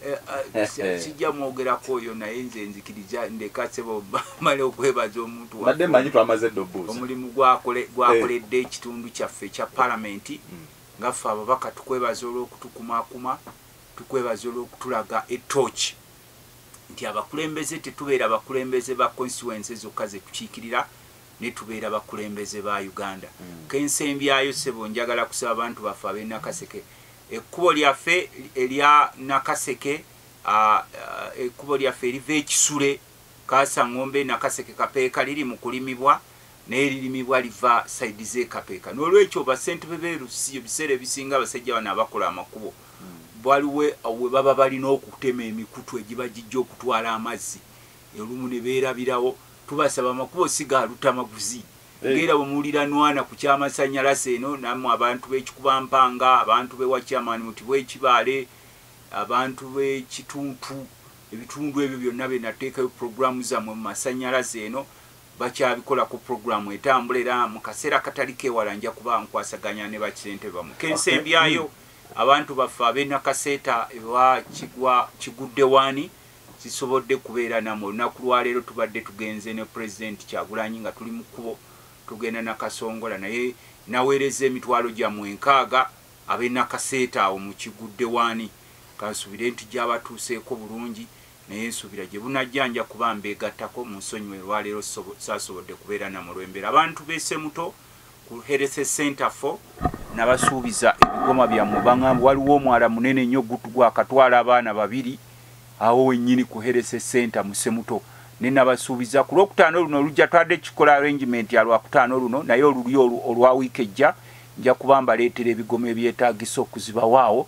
Eh, eh, eh, sijja mwogerako oyo naye nze nzikiriza ndeka sebo male okwebaza omuntu badde manyi twamaze edda obuuza omulimu gwakoledde ekitundu kyaffe ekya palamenti hmm. nga ffe ababaka tukwebaza olw'okutukumakuma tukwebaza olw'okutulaga etoki nti abakulembeze tetubeera abakulembeze ba constituense zokka zetukiikirira netubeera bakulembeze ba uganda mm. kensembyayo sebo njagala kusaba abantu baffe abenakaseke ekkubo lyaffe erya nakaseke ekkubo lyaffe eriva ekisule kasaŋombe nakaseke kapeeka liri mu kulimibwa naye lirimibwa liva saidi zekapeeka nolwekyo basentebe berusi ebiseera ebisinga abasajja bano abakola amakubo mm. baliwe we baba balina okutema emikutu egiba gijja okutwala amazzi Olumu ne beerabirawo. Tubasaba amakubo si ga lutamaguzi ng'era bwe muwulira Nwana ku ky'amasannyalase eno nammwe abantu b'e Kikubampanga, abantu b'ewa Chairman Muti bw'e Kibaale, abantu b'e Kituntu, ebitundu ebyo byonna bye nateekayo pulogulaamu zammwe mu masannyalaze eno bakyabikolako pulogulaamu etambula era mu kaseera akatali keewala nja kuba nkwasaganya ne bakisentebe bammwe. Ke nsembyayo abantu baffe ab'e Nakaseeta ewa Kigwa Kiguddewaani, Sisobodde kubeera namwe olunaku lwaleero tubadde tugenze ne president kyagulanyi nga tuli mu kkubo tugenda nakasongola naye naweerezza emitwalo gyamwe enkaaga abe nakaseeta awo mukigudde waani kansubire nti gyabatuuseeko bulungi naye nsuubira gyebunajja nja kuba mbeegattako munsonyiwe olwaleero sasobodde kubeera namwe olwembeera abantu be semuto ku Health Center for nabasuubiza ebigoma byammwe bangamba waliwo omwala munene nnyo gwakatwala abaana babiri awo wennyini ku Health Center mu Semuto ne nabasuubiza ku lwokutaano luno olujja twade kikola arrangement ya lwakutaano luno naye oluli olwa wiiki ejja nja kuba mbaleetera ebigoma ebyetaagisa okuzibawaawo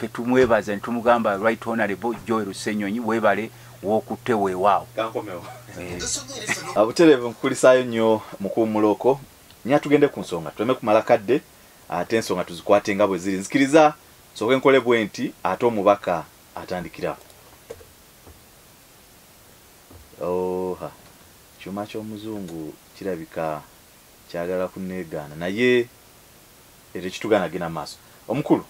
fe tumwebaza nitumugamba right honorable joy rusenyonyi webale wokutte wewaawo eh. ah, buterevu nkukulisaayo nnyo mukuwumuloko nye atugende ku nsonga tuleme kumala kadde ate ensonga tuzikwate nga bwe ziri nzikiriza soke nkole bwe nti ate omubaka atandikirawo oha kyuma ky'omuzungu kirabika kyagala kunegaana naye ekyo kitugaana agenda mu maaso. Omukulu,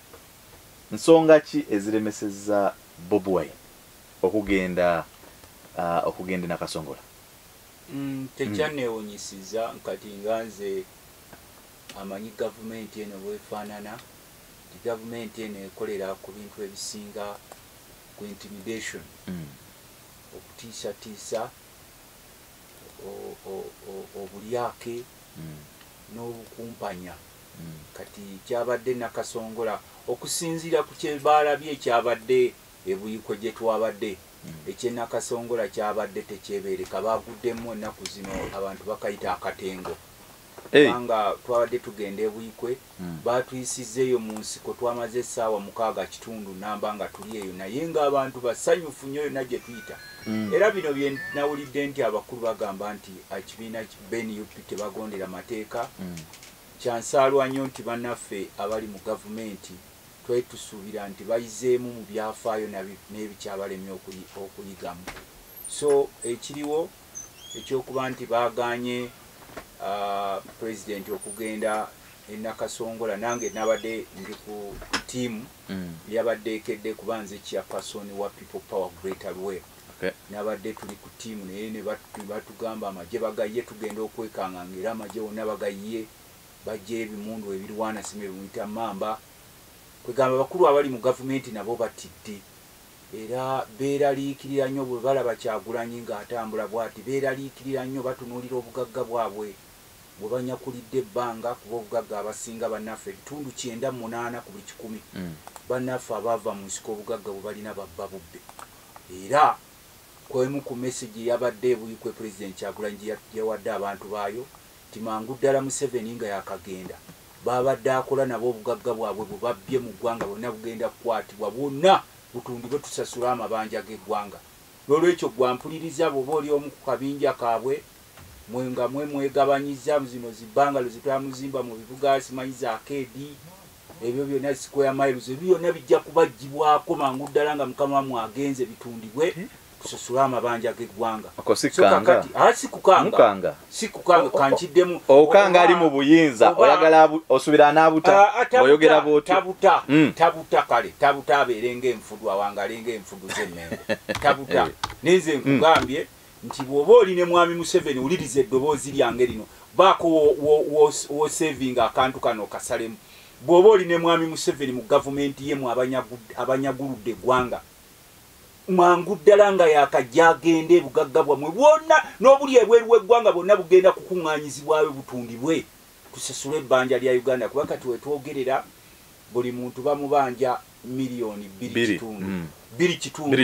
nsonga ki eziremesezza Bob Wine okugenda ah, okugenda e Nakasongola? Mm, tekyanneewunyisiza kati nga nze amanyi gavumenti eno bwefaanana nti gavumenti eno ekolera ku bintu ebisinga ku intimidation Mm. okutiisatiisa obulyake hmm. n'obukumpanya hmm. kati kyabadde nakasongola okusinziira ku kyebaalabye ekyabadde ebuyiko gye twabadde hmm. ekyenakasongola kyabadde tekyebeereka baaguddemu ennaku zino abantu bakayita akatengo kubanga twabadde tugenda ebuyikwe Baatuyisizza eyo mu nsiko, twamaze essaawa mukaaga kitundu nnamba nga tuli eyo naye ng'abantu basanyufu nnyo yonna gye tuyita era bino bye nawulidde nti abakulu bagamba nti akibiina be nup tebagondera mateeka, kyansaalwa nnyo nti bannaffe abali mu Gavumenti twali tusuubira nti bayizeemu mu byafaayo n'ebikyabalemye okuyigamu. So ekiriwo ekyokuba nti baagaanye President okugenda e Nakasongola nange nabadde ndi ku ttiimu yabadde ekedde kuba nze Chairperson wa People Power Greater Luweero nabadde tuli ku ttiimu naye ne batugamba amagye bagayye tugenda okwekanganga era amagye wonna bagayye baggyeyo ebimundu ebirwana sima bye muyita mmamba kwegamba abakulu abali mu gavumenti nabo batidde Era beeraliikirira nnyo bwe balaba Kyagulanyi ng'atambula bwati. Beeraliikirira nnyo, batunuulira obugagga bwabwe bwe banyakulidde ebbanga kuba obugagga abasinga bannaffe ebitundu kyenda mu munaana ku buli kikumi bannaffe abaava mu nsiko obugagga bwe balina babba bubbe era ku emu ku mesegi eyabadde e Buikwe Pulezidenti Kyagulanyi gye yawadde abantu baayo nti mangu ddala Museveni nga yakagenda b'abadde akola nabo obugagga bwabwe bwe babbye mu ggwanga bwonna bugenda kukwatibwa bwonna butundibwe tusasule amabanja g'eggwanga n'olwekyo ggwe ampuliriza bw'oba oli omu ku kabinja kaabwe mwe nga mwe mwegabanyiza zino zi bangalo ze twamuzimba mu bibuga simanyi za keedi ebyo byonna square miles ebyo byonna bijja kubaggyibwako mangu ddala nga mukama wamwe agenze bitundibwe kusasula amabanja g'eggwanga sikukanga kankiddemu okanga ali mu buyinza oyagala osubira anaabuta oyogera bwotabuta hmm. tabuta kale tabuta abeere ngaenfudu awangale ngaenfudu z'emmengo tabuta eh. naye nze hmm. nkugambye nti bw'oba oli ne mwami museveni wuliriza eddoboozi lyange lino baako wosevinga akantu kano okasalemu bw'oba oli ne mwami museveni mu gavumenti yemu abanyaguludde eggwanga mangu ddala nga yakajja agenda ebugagga bwammwe bwonna n'obuli ebweru w'eggwanga bwonna bugenda kukuŋŋaanyizibwayo butundibwe tusasule ebbanja lya uganda kuba kati wetwogerera buli muntu bamubanja miliyoni bbiri kitundu mm. bbiri kitundu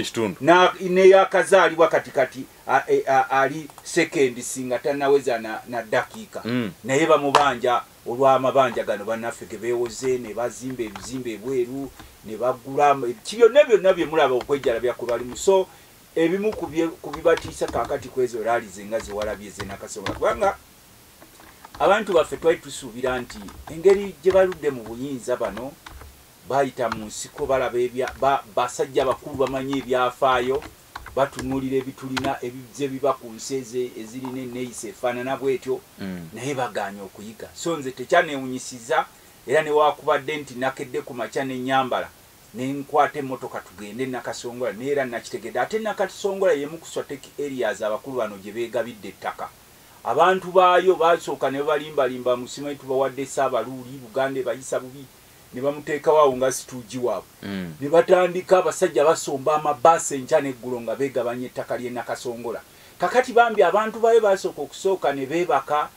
neyakazaalibwa kati kati e, ali sekendi singa tanaweza na dakiika mm. naye bamubanja olw'amabanja gano bannaffe ge beewoze ne bazimba ebizimbe ebweru ne bagula ki byonna byonna bye mulaba okwejjalabya kwe balimu so ebimu ku bibatiisa kaakati ku ezo laali ze nga zewalabye ze nakasobola kubanga abantu baffe twali tusuubira nti engeri gye baludde mu buyinza bano bayita mu nsiko balaba basajja bakulu bamanyi ebyafaayo batunuulira ebitulina ebizze biba ku nsi eze ezirina enneeyisa efaanana bw'etyo mm. naye bagaanye okuyiga so nze tekyaneewunyisiza era newakubadde nti nakedde ku makya ne nyambala ne nkwata emmotoka tugende e nakasongola naye era nakitegedde ate nakasongola yemu ku swateki areas abakulu bano gye beegabidde ettaka abantu baayo basooka ne balimbalimba musimanyi tubawadde esaabaluuli buganda ebayisa bubi ne bamuteekawo awo nga situugi waabwe mm. ne batandika abasajja basomba amabaasi enkya n'eggulo nga beegabanya ettaka ly'e Nakasongola. Kakati bambi abantu bayo baasooka okusooka ne beebaka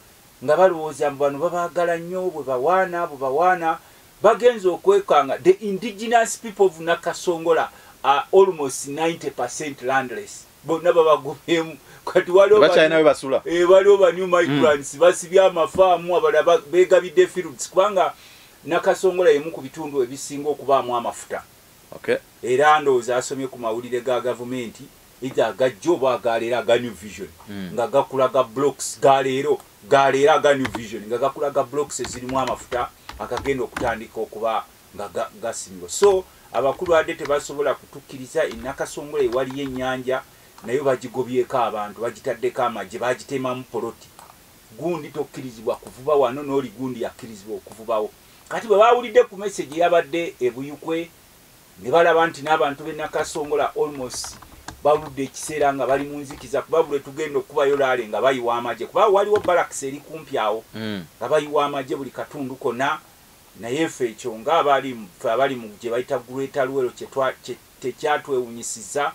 nga balowooza mbu bano babaagala nnyo bwe bawaana bwe bawaana bagenze okwekanga the indigenous people of Nakasongola are almost 90 percent landless. bonna babagumyemu kati waliwo bakyalina webasula eh, waliwo ba new migrants mm. basibye amafaamu abalaba begabidde fields kubanga nakasongola yemu ku bitundu ebisinga okubaamu amafuta okay. era ndowooza asomye ku mawulire ga gavumenti eitha agajja oba agaleero aga new vision mm. nga gakulaga blocks galeero galeero aga new vision nga gakulaga blocks ezirimu amafuta agagenda okutandika okuba nga gasimibwa so abakulu ade tebasobola kutukiriza enakasongola ewaliyo enyanja nayo bagigobyeko abantu bagitaddeko amagye bagitemamu poloti gundi tokkirizibwa kuvuba wano n'oli gundi yakkirizibwa okuvubawo kati bwe baawulidde ku mesegi yabadde ebuyukwe ne balaba nti n'abantu benakasongola almost baludde ekiseera nga bali mu nzikiza kuba buli tugenda okukubayo laale nga bayiwa amagye kuba waliwo balakisi eri kumpi awo hmm. nga bayiwa amagye buli katundu konna Naye ffe ekyo nga abali ffe abali mu gye bayita Greater Luwero kye twa kye tekyatwewunyisiza.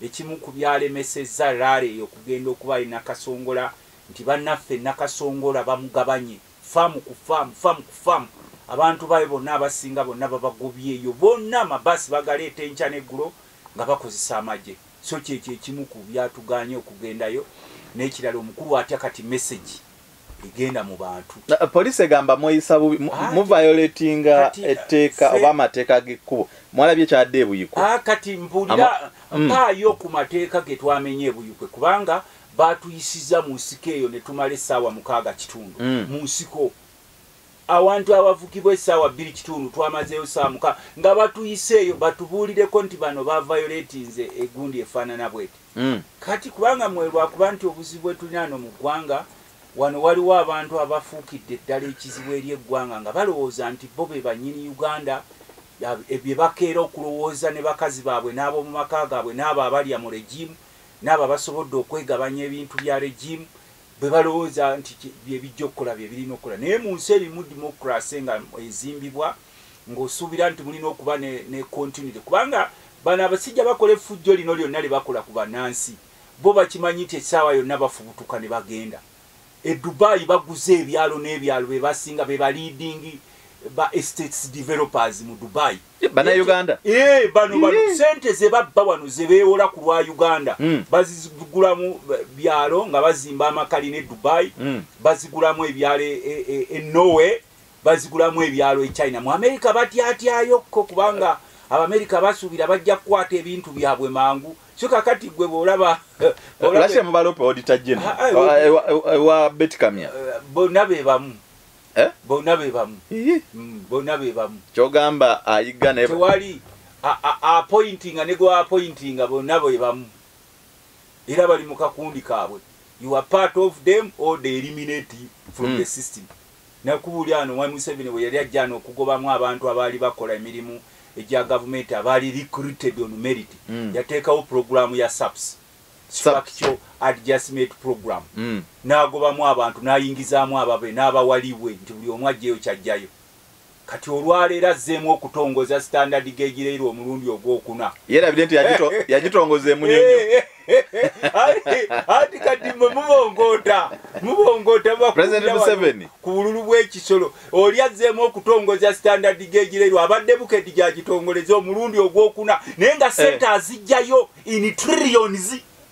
Ekimu ku byalemesezza Rally eyo okugenda okuba e Nakasongola nti bannaffe e Nakasongola bamugabanye ffaamu ku ffaamu, ffaamu ku ffaamu. Abantu baayo bonna abasinga bonna babagobyeyo bonna, amabaasi bagaleeta enkya n'eggulo nga bakozesa amagye. So kye kye kimu ku byatugaanye okugendayo. N'ekirala omukulu atya kati mesegi egenda mu bantu poliisi egamba mweyisa bubi muviolatinga etteeka oba amateeka g'ekkubo mwalabye kyadde ebuyiko ah, kati mpulira mm. mpaayo ku mateeka ge twamenye ebuyikwe kubanga baatuyisiza mu nsiko eyo ne tumala essaawa mukaaga kitundu mm. mu nsiko awantu awavugibwa essaawa bbiri kitundu twamazeeyo ssaawa muka nga batuyiseeyo batubuulireko nti bano bavayoletinze egundi efaanana bweti Mm. Kati kubanga mwe lwakuba nti obuzibu bwetulina ano mu ggwanga wano waliwo abantu abafuukidde eddala ekizibu eri eggwanga nga balowooza nti bo be bannyini Uganda e, bye bakeera okulowooza ne bakazi baabwe n'ab'omu maka gaabwe n'abo abalya mu regimu n'abo abasobodde okwegabanya ebintu bya regimu bwe balowooza nti bye bijja okukola bye birina okukola naye mu nsi erimu dimokirase nga ezimbibwa ng'osuubira nti mulina okuba ne, ne continuity kubanga bano abasajja bakola effujjo lino lyonna lye bakola ku bannansi bo bakimanyi nti essaawa yonna bafubutuka ne bagenda e dubai baguze ebyalo n'ebyalo be basinga be ba leading ba estates developers mu dubai eh, banauganda eh, bano bano eh. sente ze babba wano ze beewola ku lwa uganda hmm. bazigulamu byalo nga bazimba amakali ne dubai hmm. bazigulamu ebyalo e, e, e norway bazigulamu ebyalo e china mu amerika batyatyayo ko kubanga abamerika basuubira bajja kukwata ebintu byabwe mangu so kakati gwe bwolaba lase mubalope odita jeno ewa betikamya bonna be bamu eh? bonna be bamu mm, bonna be bamu kyogamba ayiga ne tewali apointinga ne gwa apointinga bonna be bamu era bali mu kakundi kaabwe you are part of them or they eliminate from mm. the system Nakubuli ano Mwami Museveni we yali ajja ano okugobamu abantu abaali bakola emirimu egya gavumenti abaali recruited on merit, yateekawo pulogulaamu ya SAPS, Structural Adjustment Program, n'agobamu abantu n'ayingizaamu ababe n'abawa leeway nti buli omu aggyeyo ky'aggyayo. kati olwaleero azzeemu okutongoza sitandadi gegireirwa omulundi ogwokuna yerabire nti yagitongoza emunyonyo anti kati mwe mubongoota mubongoota ku bululu bw'ekisolo oli azzeemu okutongoza sitandadi gegireirwa abadde bukedi gyagitongoleza omulundi ogwokuna naye nga sente azijjayo in trillions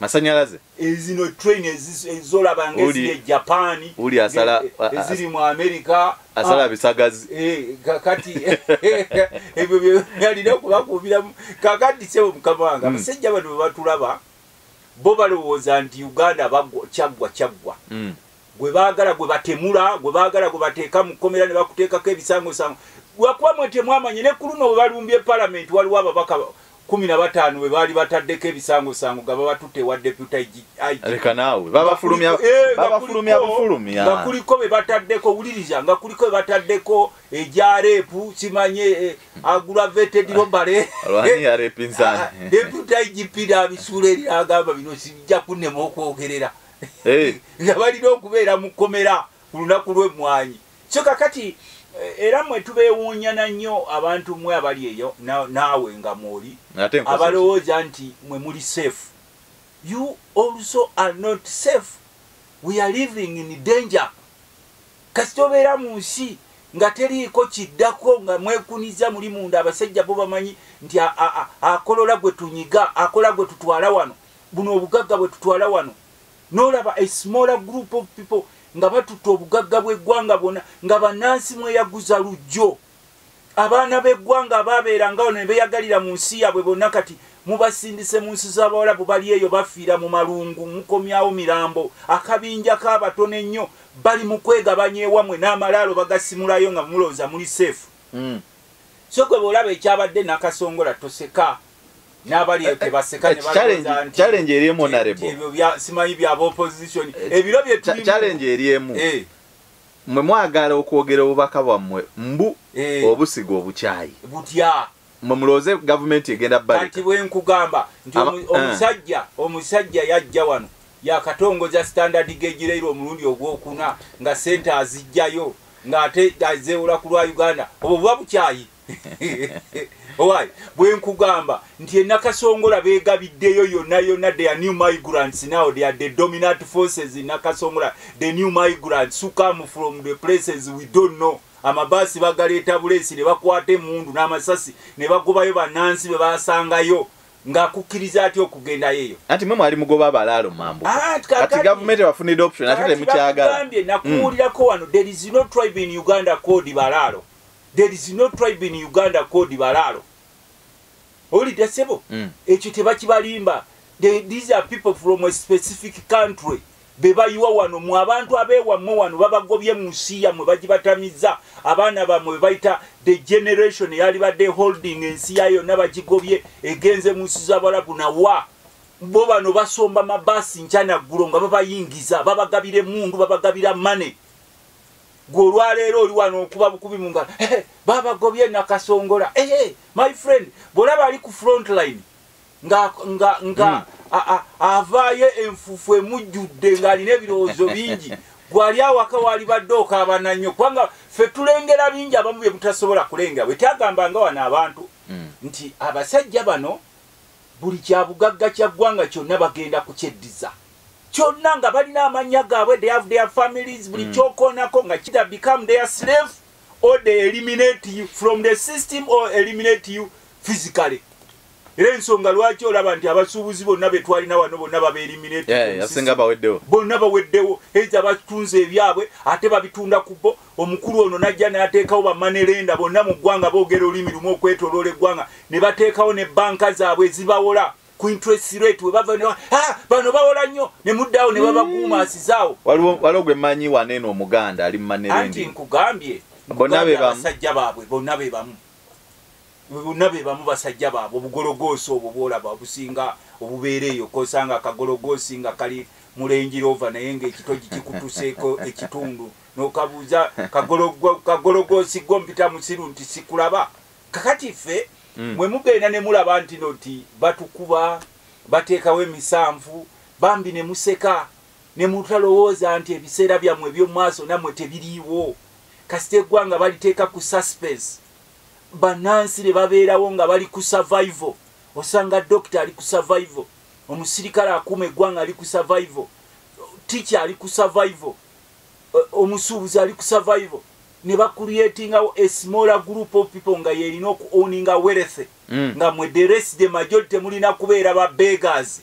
masanyalaze eh, zino train ezolaba ngeziri ejapani uli asala eziri mu amerika asala ah, bisagazi eh, kakati ebyo byalina okubakuubiramu kakati sebo mukama wange hmm. abasajja bano bebatulaba bo balowooza nti uganda kyaggwa kyaggwa hmm. gwe baagala gwe batemula gwe baagala gwe bateeka mu kkomera ne bakuteekako ebisangosango lwakuba mwe temwamanye ne ku luno bwe balumbye palamenti waliwo ababaka kumi na bataano bwe baali bataddeko ebisangosango nga babatutte ewa deputa leka naawe babafulumya eh, bufulumi nga kuliko be bataddeko wuliriza nga kuliko be bataddeko egya reepu kimanye eh, aggravated robale deputa igp nabisuula eri agamba bino sijja kunema okwogerera eh. nga balina okubeera mu kkomera ku lunaku lw'emmwanyi so kakati eh, era mwe tubeewuunyana nnyo abantu mwe abali eyo naawe nga mwoli abalowooza nti mwe muli safe you also are not safe we are living in danger kasita obeera mu nsi nga teriiko kiddako nga mwekuniza muli munda abasajja bo bamanyi nti akolola gwe tunyiga akola gwe tutwala wano buno obugagga bwe tutwala wano nolaba a smaller group of people nga batutta obugagga bw'eggwanga bwona nga bannansi mweyaguza lujjo abaana b'eggwanga abaabeera nga ono ne beyagalira mu nsi yaabwe bonna kati mubasindise mu nsi z'abawalabu bali eyo bafiira mu malungu mukomyawo mirambo akabinja k'abatono ennyo bali mu kwegabanya ewamwe n'amalaalo bagasimulayo nga mulowooza muli seefu hmm. so kwe beolaba ekyabadde nakasongola toseka challenge eri emu narebosimanyi bya opposition eh, ebiro byechallenge eri emu eh. mwe mwagala okwogera obubaka bwammwe mbu eh. obusiga obukyayi butya mwe mulowooze gavumenti egenda balekati bwenkugamba nti omusajja omusajja yajja wano yakatongoza standard gegireirwa omulundi ogwokuna nga sente azijjayo ng'ate azeewola ku lwa uganda obwo buba bukyayi owaye bwenkugamba nti enakasongola begabiddeyo yona yona the new migrants now they are the dominant forces enakasongola the new migrants who come from the places we don't know amabaasi bagaleeta buleesi ne bakwata emundu n'amasasi ne bagobayo bannansi be basangayo ng'akukkiriza atya okugendayo eyo anti mwe mwali mugoba abalaalo mambu ah, kati gavumenti ebafunidde option ate temukyagalagambye nakuwulirako wano there is no tribe in uganda code balaalo there is no tribe in uganda called balaalo owulidde sebo mm. ekyo tebakibalimba these are people from a specific country bebayiwa wano mu abantu abewammwe wano babagobye mu nsi yammwe bagibatamiza abaana bammwe bebayita the generation eyali badde holding ensi ya yonna bagigobye egenze mu nsi zabalabu nawa bo bano basomba mabaasi nkyanaggulu nga babayingiza babagabira emundu babagabira money gwe olwaleero oli wano okuba bukubi mu ngalo eh, babagobye nakasongola eh, eh, my friend bwolaba ali ku front line nga nga nga mm. avaayo enfufu emujjudde ng'alina ebirowoozo bingi gwali awaka waali badde okaabana nnyo kubanga ffe tulengera bingi abamu bye mutasobola kulengera bwe tyagamba nga wano abantu mm. nti abasajja bano Buli kyabugagga kya ggwanga kyonna bagenda kukyeddiza kyonna nga balina amannya gaabwe they have their families buli mm. kyokoonako nga kita become their slave or they eliminate you from the system or eliminate you physically era ensonga lwaki olaba nti abasuubuzi bonna betwalina wano bonna babeeliminate bonna baweddewo eza batunze ebyabwe ate babitunda ku bo Omukulu ono n'ajja n'ateekawo bamanerenda bonna mu ggwanga boogera olulimi lumu okwetoloola eggwanga ne bateekawo ne bbanka zaabwe ezibawola ku interest rate we bava ah, bano bawola nnyo ne muddawo ne babaguumaasizaawo mm. waliwo gwe mmanyi wana eno omuganda ali mumanerendi nkugambye basajja baabwe bonna be bamu bonna be bamu basajja baabwe obugologoosi obwo bwolaba obusinga obubeera eyo kosanga akagologoosi nga kali mulenjirova naye ngaekitoji kikutuseeko ekitundu nokabuuza kagologosi gwo mpita musiru nti sikulaba kakati ffe mm. mwe mugenda ne mulaba nti no nti batukuba bateekawo emisanvu bambi ne museka ne mutalowooza nti ebiseera byammwe eby'omu maaso nammwe tebiriiwo kasita eggwanga baliteeka ku suspense bannansi ne babeerawo nga bali ku survival osanga dokita ali ku survival omusirikale akuuma eggwanga ali ku survival ticha ali ku survival omusuubuzi ali ku survival ne bakuliatingawo a smaller group of people nga yerina oku owninga werethe mm. nga mwe the rest the majority mulina kubeera ba beggers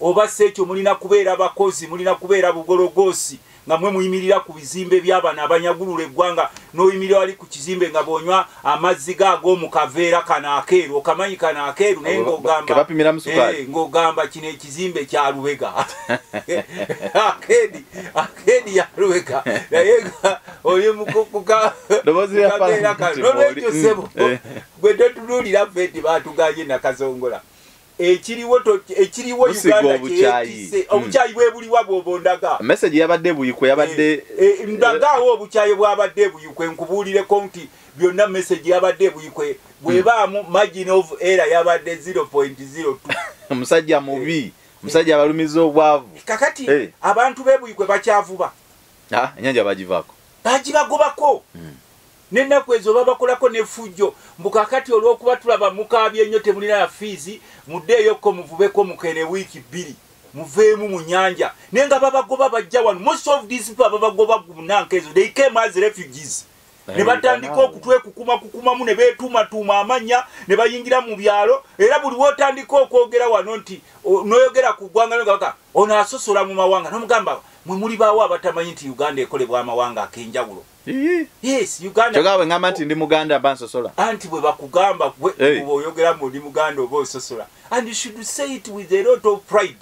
oba si ekyo mulina kubeera bakozi mulina kubeera bugologoosi nga mwe muyimirira ku bizimbe by'abana abanyagulula eggwanga n'oyimirira wali ku kizimbe nga bonywa amazzi ga ag'omu kaveera kano akeeru okamanyi kano akeeru naye eh, ng'ogamba kino ekizimbe kya lubega akeedi akeedi ya lubega naye oli mukukukaveera kano nolwekyo sebo mm, eh. gwe totunuulira ffe nti baatuganye nakazongola ekiriwo ekiriwo uganda kyekise hmm. obukyayi bwebuliwa bwobondaga message yabadde buyikwe yabadde eh, eh, eh, ndagaawo obukyayi bwabadde buyikwe nkubuulireko nti byonna message yabadde buyikwe hmm. bwebaamu margin of era yabadde 0.02 omusajja mubi omusajja abalumiza obwavu kakati abantu bebuyikwe bakyavuba ah, enyanja bagivako bagibagobako hmm. N'ennaku ezo babakolako n'effujjo, mbu kaakati olw'okuba tulaba mukaabye nnyo temulina na fiizi, muddeeyokko muvubeko mukeene wiiki bbiri muveemu mu nnyanja. Naye nga babagoba bajja wano. Most of these people ababagoba mu nanka ezo, they came as refugees. Eh, ne batandika okutwekukumakukumamu ne beetuumatuuma amannya ne bayingira mu byalo era buli wotandika okwogera wano nti noyogera ku ggwanga nogaka ono asosola mu mawanga nomugamba mwe muli baawo abatamanyi nti uganda ekolebwa amawanga akenjawulo Yes, Uganda. Choga we ngama nti ndi Muganda ba nsosola. Anti bwe bakugamba gwe hey. oyogera mu ndi Muganda oba ososola. And you should say it with a lot of pride.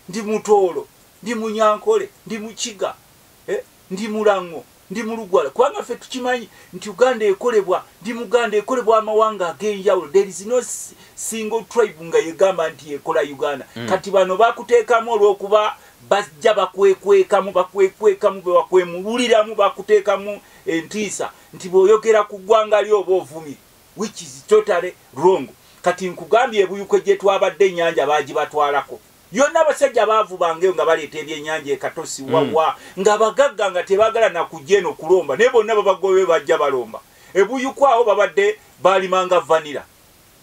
Ndi mutolo, ndi munyankole, ndi muchiga, eh? ndi mulango, ndi mulugwala. Kwanga fe tukimanyi nti Uganda ekolebwa, ndi Muganda ekolebwa amawanga agenjawulo. There is no single tribe nga yegamba nti ekola Uganda. Mm. Kati bano bakutekamu olwokuba Bajja bakwekwekamu, bakwekwekamu, bebakwemululiramu, bakutekamu entiisa nti bwoyogera ku ggwanga lyo oba ovumye, which is totally wrong. Kati nkugambye ebuyukwe gyetwabadde enyanja bagibatwalako yona, abasajja baavubangeyo nga baleeta ebyenyanja ekatosi mm. wawa nga bagagga nga tebagala nakujja eno kulomba, naye bonna babagobe bajja balomba ebuyukwa awo babadde balimanga vanira.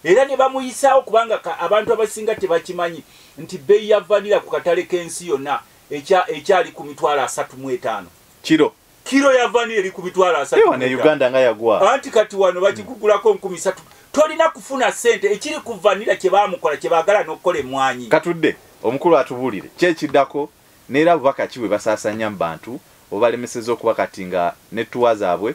era ne bamuyisaawo kubanga abantu abasinga tebakimanyi nti bbeeyi ya vanira ku katale k'ensi yonna ekyali ku mitwalo asatu mu etaano kiro kiro ya vanira eri ku mitwalo asatuuganda nga yagwa anti kati wano bagigugulako nkumi satu tolina kufuna ssente ekiri ku vanira kye baamukola kye baagala n'okukola emmwanyi katudde omukulu atubuulire kyekiddako neera bubaka ki bwe basaasanya mu bantu obalemeseza okuba kati nga nettuwa zaabwe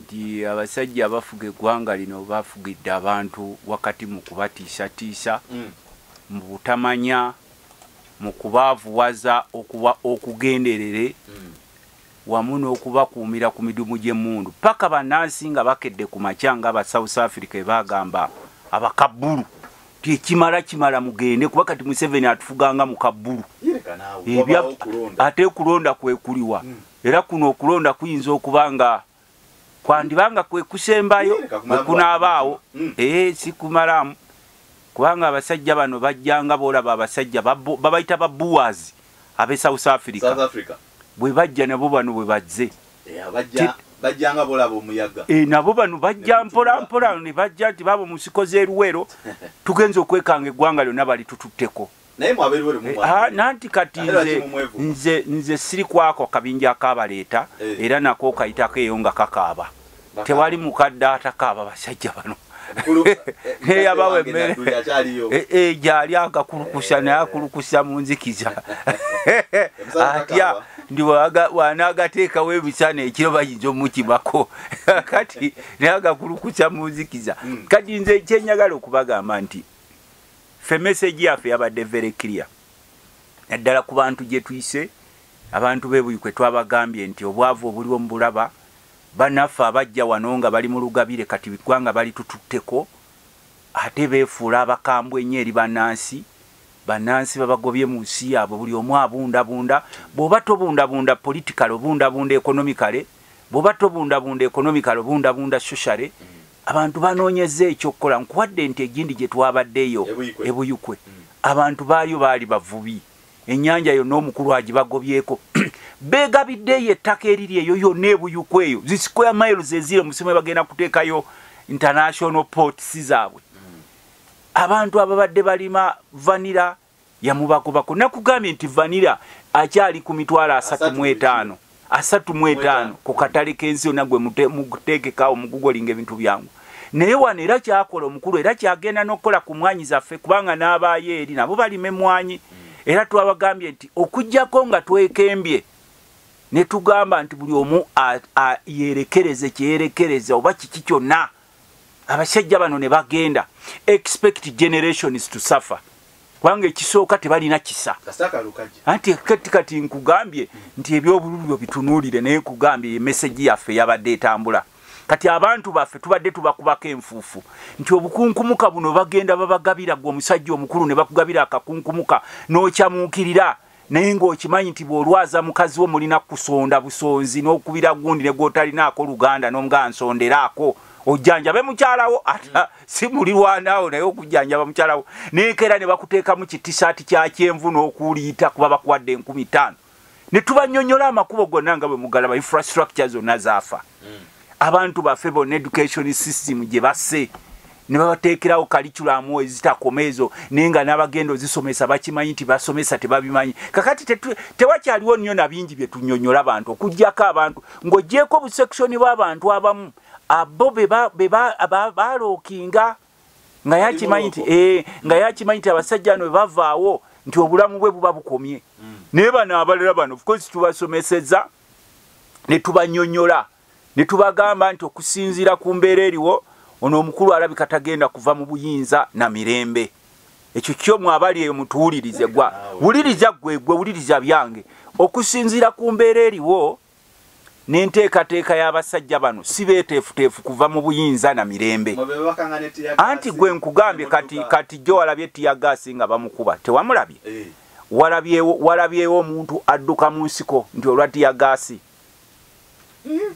nti abasajja abafuga eggwanga lino bafugidde abantu wakati mu kubatiisatiisa, mu butamanya, mu kubaavuwaza okuba okugenderere wamu n'okubakuumira ku midumu gy'emmundu paka bannansi nga bakedde ku makya nga aba South Africa ebaagamba abakabbulu nti ekimala kimala mugende kuba kati Museveni atufuga nga mukabbulu ate okulonda kwekuliwa era kuno okulonda kuyinza okuba nga kwandiba nga kwe kusembayo bwe kunaabaawo hmm. ee eh, sikumalamu kubanga abasajja bano bajjanga boolaba abasajja babayita babuwazi ab'e south africa bwe bajja nabo bano bwe bazze eh, bajjanga bolaba omuyaga e, nabo bano bajja mpolampola ne bajja nti baba mu nsiko z'eruwero tugenza okwekanga eggwanga lyonna balitututteko naye mwabeeruwo lumu mwa- Ha, nanti kati Era nze, kimumwevu. nze, nze siri kwako akabinja akabaleeta Eh. era nako kayitako eyo nga kakaaba Bakaaba. tewali mukadde atakaaba basajja bano Mukulu, eh, neyabawa mukadde wange emmere Nadduli akyaliyo. Eh, eh, gyali agakulukusa naye akulukusa mu nzikiza Emisana atya kakaaba. ndi waga- wanaagateekawo emisana ekiro bayinza omukimako kati naye agakulukusa mu nzikiza kati nze kyenyagala okubagamba nti Ffe message yaffe yabadde very clear naddala ku bantu gye tuyise abantu bebuyi kwe twabagambye nti obwavu obuliwo mu bulaba banaffe abajja wano nga bali mu lugabire kati biggwanga bali tututteko ate beefuula abakambwe ennyo eri bannansi bannansi babagobye mu nsi yaabwe buli omu abundabunda bw'oba tobundabunda politikale obundabunda ekonomikale bw'oba tobundabunda ekonomikale obundabunda soshale abantu banoonyezza ekyokukola nkuwadde ente egindi gye twabaddeyo ebuyukwe e mm. abantu baaliyo baali bavubi ennyanja yonna omukulu agibagobyeko beegabiddeeyo ettaka eriri eyo yonna ebuyukwe eyo zi square miles eziri omusimu ebagenda kuteekayo international ports zaabwe mm. abantu ababadde balima vanira yamubagobako nakugambye nti vanira akyali ku mitwalo asatu mu etaano asatu mu etaano ku katale k'ensi yonna gwe muteekekaawo mugugolinga ebintu byangu naye wano era kyakola omukulu era kyagenda n'okukola ku mwanyi zaffe kubanga n'abaayo eri nabo balima emwanyi hmm. era twabagambye nti okugyako nga twekembye ne tugamba nti buli omu yeerekereze kyeyerekereza oba kiki kyonna abasajja bano ne bagenda expect generations to suffer kubanga ekisooka tebalina kisa anti kati kati nkugambye nti ebyobululu byo bitunuulire naye nkugambye emesegi yaffe yabadde etambula kati abantu baffe tubadde tubakubako enfuufu nti obukunkumuka buno bagenda babagabira gwe omusajja omukulu ne bakugabira akakunkumuka n'okyamuukirira naye ng'okimanyi nti bw'olwaza mukazi wo mulina kusonda busonzi n'okubira gundi ne gwotalinaako luganda n'omugaa nsonderaako ojjanjabe mukyalawo ata si mulirwanaawo naye okujjanjaba mukyalawo nekeera ne bakuteekamu kitisaati kya kyenvu n'okuuliita kuba bakuwadde enkumi ttaano ne tubanyonyola amakubo gonna nga bwe mugalaba infrastructure zonna zaafa mm. abantu baffe bona education system gye basse ne babateekerawo kalikulamu ezitakoma ezo naye nga n'abagenda ozisomesa bakimanyi nti basomesa tebabimanyi kakati tewakyaliwo nnyo na bingi bye tunyonyola abantu okugyako abantu ng'ogyeko obusekisoni bw'abantu abamu abo bebaalookinga nga yakimanyi nti eh, nga yakimanyi nti abasajja no bebavaawo nti obulamu bwe buba bukomye mm. naye bano abalala bano ofcourse tubasomeseza ne tubanyonyola ne tubagamba nti okusinziira ku mbeera eriwo ono omukulu alabika tagenda kuva mu buyinza na mirembe ekyo kyo mwabali eyo mutuwulirize gwa wuliriza gwe gwe wuliriza byange okusinziira ku mbeera eriwo n'enteekateeka y'abasajja bano si beeteefuteefu kuva mu buyinza na mirembe anti gwe nkugambye kati kati jjo walabye tiyagaasi nga bamukuba tewamulabye eh. walabyewo omuntu adduka mu nsiko nti olwa tiyagaasi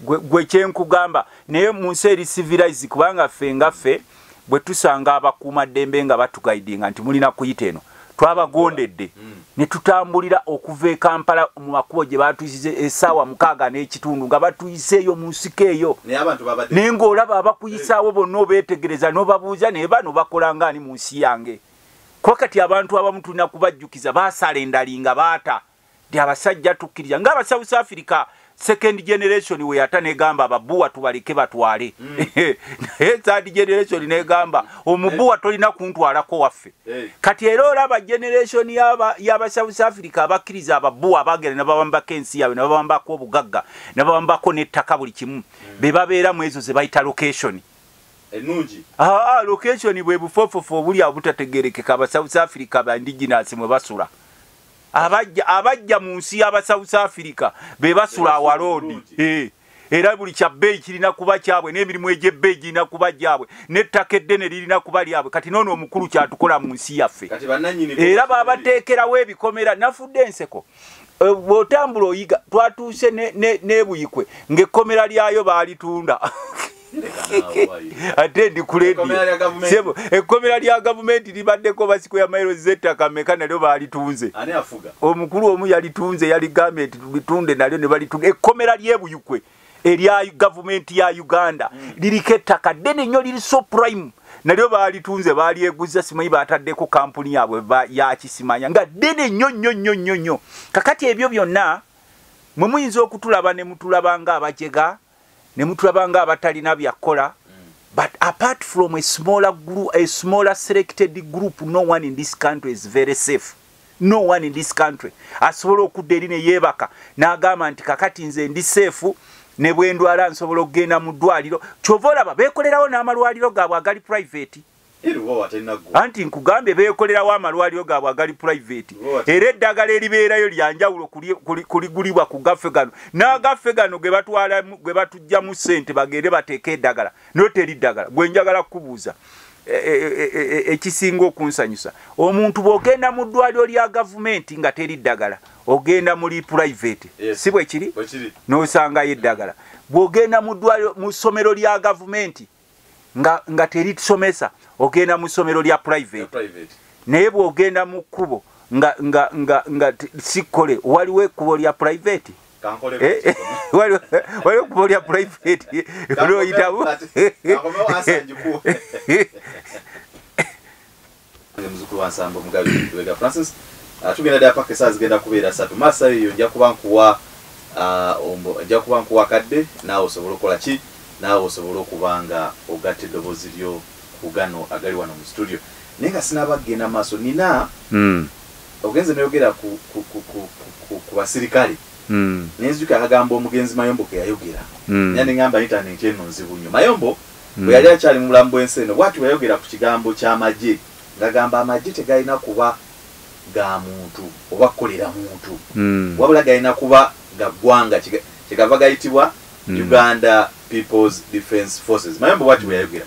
gwe kyenkugamba naye mu nsi eri civilise kubanga ffe nga ffe bwe tusanga abakuuma ddembe nga batugaidinga nti mulina kuyita eno twabagondedde mm. ne tutambulira okuva e kampala mu makubo gye batuyisiza esaawa mukaaga n'ekitundu nga batuyiseeyo mu nsiko eyo naye ng'olaba abakuyisaawo bonna obeetegereza n'obabuuza naye bano bakola ngaani mu nsi yange kuba kati abantu abamu tulina kubajjukiza baasala endali nga baata ti abasajja tukkiriza nga aba south africa second generation weyata negamba ababuwa tubaleke batwale mm. naye third generation negamba omubuwa tolina kuntwalako waffe eh. kati era olaba generation yaba south africa abakkiriza ababuwa abagenda nabawambako ensi yabwe nabawambako obugagga nabawambako nettaka buli kimu mm. bebabeera mu ezo zebayita location ennungi aa location bwe bufofofo obuli abutategerekeka aba south africa ba indigenous mwe basula abajja abajja mu nsi y'aba south africa be basula awaloodi eh, era buli kya bbeeyi kirina kuba kyabwe n'emirimu egy'ebbeeyi girina kuba gyabwe n'ettaka eddene lirina kuba lyabwe kati noono omukulu kyatukola mu nsi yaffe era babateekerawo ebikomera nafudde enseko Eh, bwotambula oyiga twatuuse nebuyikwe ngaekkomera lyayo baalitunda ate ndi kuledio ekkomera lya gavumenti libaddeko basiko ya mairo zettaka meka nalyo baalitunze omukulu omu yalitunze yaligambye nti bitunda nalyo nebalitunda ekkomera lyebuyikwe erya gavumenti ya uganda mm. liriko ettaka ddene nnyo liri so prime nalyo baalitunze baalyeguza simanyi baataddeko kampuni yaabwe yakisimanya nga ddene nnyo nnyo nnyo nnyo nnyo kakati ebyo byonna mwe muyinza okutulaba ne mutulaba nga abajega ne mutulaba nga abatalina byakukola mm. but apart from a smaller, group, a smaller selected group no one in this country is very safe no one in this country asobola okudda eri ne yeebaka n'agamba nti kakati nze ndi seefu ne bwe ndwala nsobola okugenda mu ddwaliro kyova olaba beekolerawo n'amalwaliro gaabwe agali private anti nkugambye beekolerawo amalwaliro gaabwe agali private era eddagala eribeerayo lyanjawulo kuligulibwa ku gaffe gano n'agaffe gano ge batujjamu ssente bagende bateeke eddagala noteri ddagala gwe njagala kukubuuza e, e, e, ekisinga okunsanyusa omuntu bwogenda mu ddwaliro lya gavumenti nga teri ddagala ogenda muli purivate si bwe kiri n'osangayo eddagala bwogenda mu ddwaliro mu ssomero lya gavumenti nga teri tusomesa ogenda mu ssomero lya purivate naye bwogenda mu kkubo nga sikole waliwo ekkubo lya purivate waliwo kuba olya private lwoyitawo muzukulu wansambo mugabi wega francis ah, tugenda dda paka esaa zigenda kubeera satu masa eyo nja kuba nkuwa ah, nja kuba nkuwa kadde naawe osobole okukola ki naawe osobole okuba nga ogatta eddoboozi lyo ku gano agali wano mu studio naye nga sinaba kugenda maaso nina hmm. Ogenze noyogera ku ku ku ku ku ku basirikale Mm. nenzijukira akagambo omugenzi Mayombo ke yayogera Mm. era ne ngamba intanenti eno nzibu nnyo. Mayombo Mm. bwe yali akyali mu bulamu bw'ensi eno bw'ati bwe yayogera ku kigambo ky'amagye ng'agamba amagye tegalina kuba ga muntu oba kukolera muntu Mm. wabula galina kuba ga ggwanga kiga- kyegava gayitibwa Mm. Uganda People's Defence Forces. Mayombo bw'ati bwe yayogera.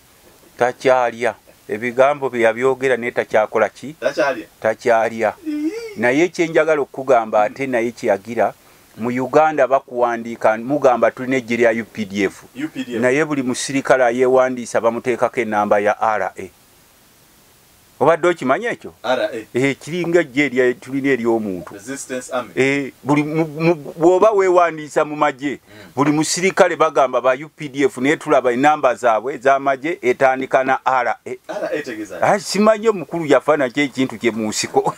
takyalya ebigambo bye yabyogera naye takyakola ki takyalya naye kyenjagala okukugamba ate naye kyeyagira mu uganda bakuwandiika mugamba tulina ejje lya updf naye buli musirikale ayewandiisa bamuteekako enamba ya ra obadde okimanyi ekyo eh, kiringa jje tulina eri omuntu eh, bwoba wewandiisa mu magye hmm. buli musirikale bagamba ba updf naye tulaba enamba zaabwe ezamagye etandika na ra eh, ah, simanyi omukulu yafanaki ekintu kye mu nsiko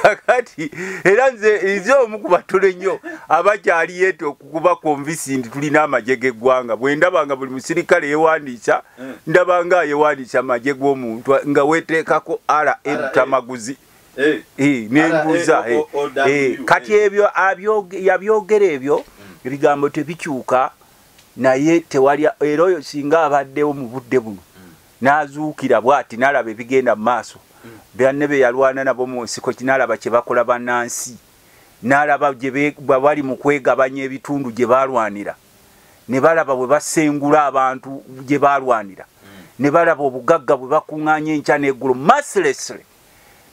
kakati era nze nze omu ku batono ennyo abakyali yeeta okukuba konvisi nti tulina amagye g'eggwanga bwe ndaba nga buli musirikale yewandiisa eh. ndaba nga ayewanisa amagye g'omuntu nga weteekako ara ebutamaguzi eh. eh, nembuuza kati ebyo yabyogera ebyo hmm. ebigambo tebikyuka naye tewali era oyo singa abaddewo mu budde buno hmm. n'azuukira bwati n'alaba ebigenda mu maaso hmm. banne be yalwana nabo mu nsiko kinaalaba kye bakola bannansi n'alaba bwe bali mu kwegabanya ebitundu gye baalwanira ne balaba bwe basengula abantu gye baalwanira ne balaba obugagga bwe bakuŋŋaanya enkya n'eggulo mercilessly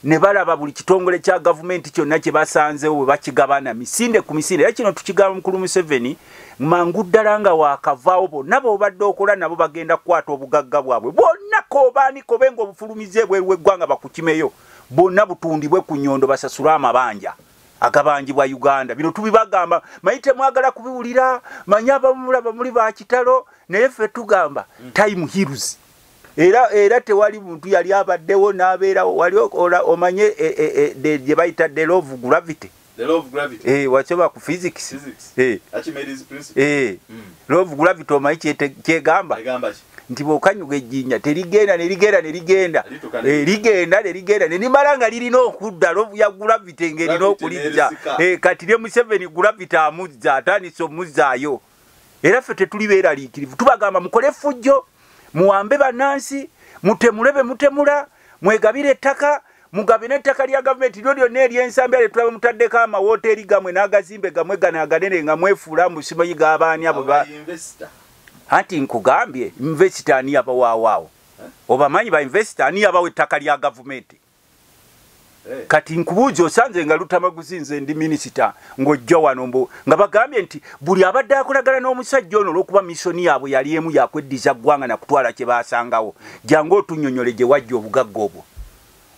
ne balaba buli kitongole kya gavumenti kyonna kye basanzewo bwe bakigabana misinde ku misinde era kino tukigamba mukulu museveni mangu ddala nga waakavaawo bonna bobadde okola nabo bagenda kukwata obugagga bwabwe bwonna kobaaniko be nga obufulumiza ebweru w'eggwanga bakukimeyo bwonna butundibwe ku nyondo basasule amabanja agabanjibwa uganda bino tubibagamba manyi temwagala kubiwulira manyi abamulaba muli bakitalo naye ffe tugamba mm. time hills era era tewali muntu yali abaddewo n'abeerawo wali omanye e, e, e, gye bayita the law of gravity eh, wacoba ku physics eh. eh. mm. law of gravity omanyi kyegamba nti bwokanyuga ejjinja terigenda nerigenda nerigenda eh, ligenda nerigenda nerimala nga lirina okudda ya gulavita engerina okulijja eh, kati ne museveni gulavita amuzza atandisa omuzzaayo era ffe tetuli beeraliikirivu tubagamba mukole effujjo muwambe bannansi mutemule be mutemula mwegabire ettaka mugabe n'ettaka lya gavumenti lyo lyonna eryensambya lye tulaba mutaddeko amawooteeri gamwe n'agazimbe gamwe gano aganene nga mwefuula musimayi g'abaani abo anti nkugambye invesita ani yabawaawaawo obamanyi ba invesita ani yabawa ettaka lya gavumenti eh. kati nkubuuzi osanze nga lutamaguzi nze ndi minisita ng'ojja wano mbu nga bagambye nti buli abadde akolagana n'omusajja ono olw'okuba misoni yaabwe yali emu yakweddiza ggwanga na kutwala kye baasangawo jangu otunyonyole gye wajja obugagga obwo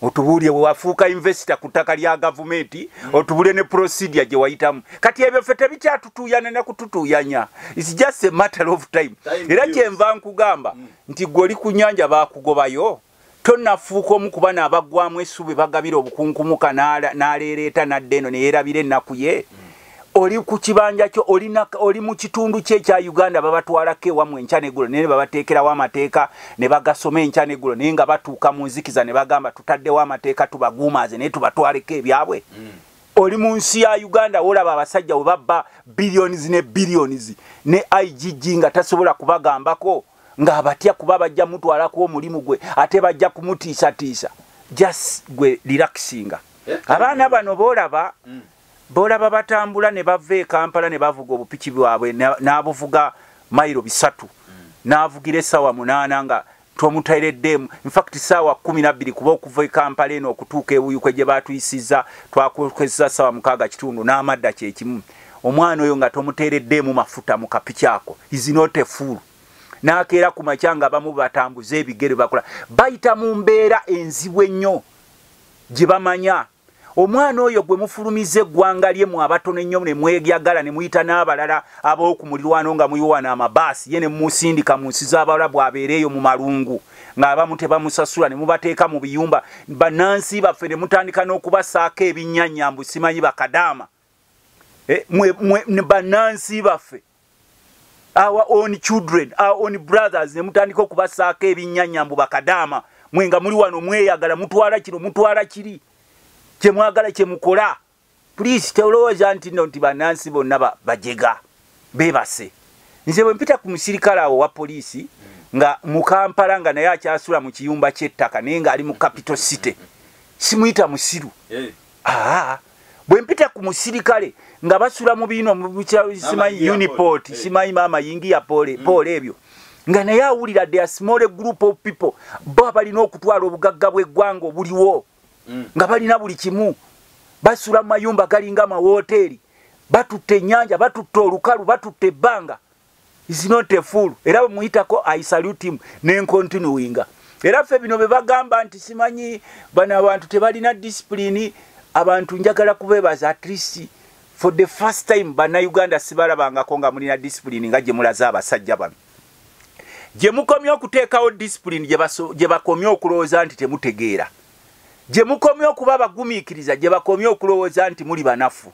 otubuulire wewafuuka investor ku ttaka lya gavumenti otubuulire ne procedure gye wayitamu kati ebyo ffe tebikyatutuuyana ne kututuuyanya its just a matter of time era kyenva nkugamba mm. nti gwe oli ku nyanja baakugobayo tonafuuka omu ku bana abaggwamu essuubi bagabira obukunkumuka n'aleereeta n'adda eno ne yeerabira ennaku ye mm. oli ku kibanja kyo oli mu kitundu kye ekya uganda babatwalako ewamwe enkya negulo naye nebabateekerawo amateeka ne bagasoma enkya negulo naye nga batuuka mu nzikiza ne bagamba tutaddewo amateeka tubaguumaaze naye tubatwaleko ebyabwe hmm. oli mu nsi ya uganda wolaba abasajja we babba billions ne billions ne igg nga tasobola kubagambako ng'abatya kuba bajja mutwalako omulimu gwe ate bajja kumutiisatiisa just gwe relaxinga eh? abaana bano boolaba hmm. B'olaba batambula ne bava e Kampala ne bavuga obupiki bwabwe n'abuvuga mayiro bisatu hmm. n'avugira essaawa munaana nga twomutaireddeemu infact saawa kumi nabbiri kuba okuva ekampala eno okutuuka ewuyukwe gye batuyisiza twakozesa saawa mukaaga kitundu n'amadda kyekimu omwana oyo nga tomuteereddeemu mafuta mu kapiki ako izinotefuulu nakeera ku makya nga bamu batambuza ebigere bakola bayita mu mbeera enzibu ennyo gye bamanya omwana oyo gwe mufulumiza eggwanga lye mu abatono ennyo ne mwegyagala ne muyita n'abalala ab'oku mulirwano nga muyiwana amabaasi ye ne musindika mu nsi z'abalabu abeera eyo mu malungu ng'abamu tebamusasula ne mubateeka mu biyumba bannansi baffe ne mutandika n'okubasaako ebinnyanyambu simanyi bakadaama eh, banansi baffe our own children our own brothers ne mutandika okubasaako ebinyanya mbu bakadaama mwe nga muli wano mweyagala mutwala kino mutwala kiri kyemwagala kyemukola please tolowooza nti no nti banansi bonna bajega bebase nze bwe mpita ku musirikale awo wa poliisi nga mukampala nga naye akyasula mu kiyumba kyettaka naye nga ali mu capital city simuyita musiru eh. aa bwempita ku musirikale nga basula mu biino simanyi uniport eh. simanyi maama yingiya pole mm. pole ebyo nga naye awulira the small group of people bo abalina okutwala obugagga bw'eggwanga obuliwo mm. nga balina buli kimu basula mu mayumba galinga amawoteeri batutte ennyanja batutte olukalu batutte ebbanga is not a fool era bwemuyitako i salute him nencontinuinga era ffe bino bebagamba nti simanyi bano abantu tebalina disipulini abantu njagala kubebaza at least for the first time banauganda sibalabangako nga mulina disipulini nga gyemulaze abasajja bano gyemukomye okuteekawo disipulini gyebakomye okulowooza nti temutegeera gyemukomye okuba abagumiikiriza gyebakomye okulowooza nti muli banafu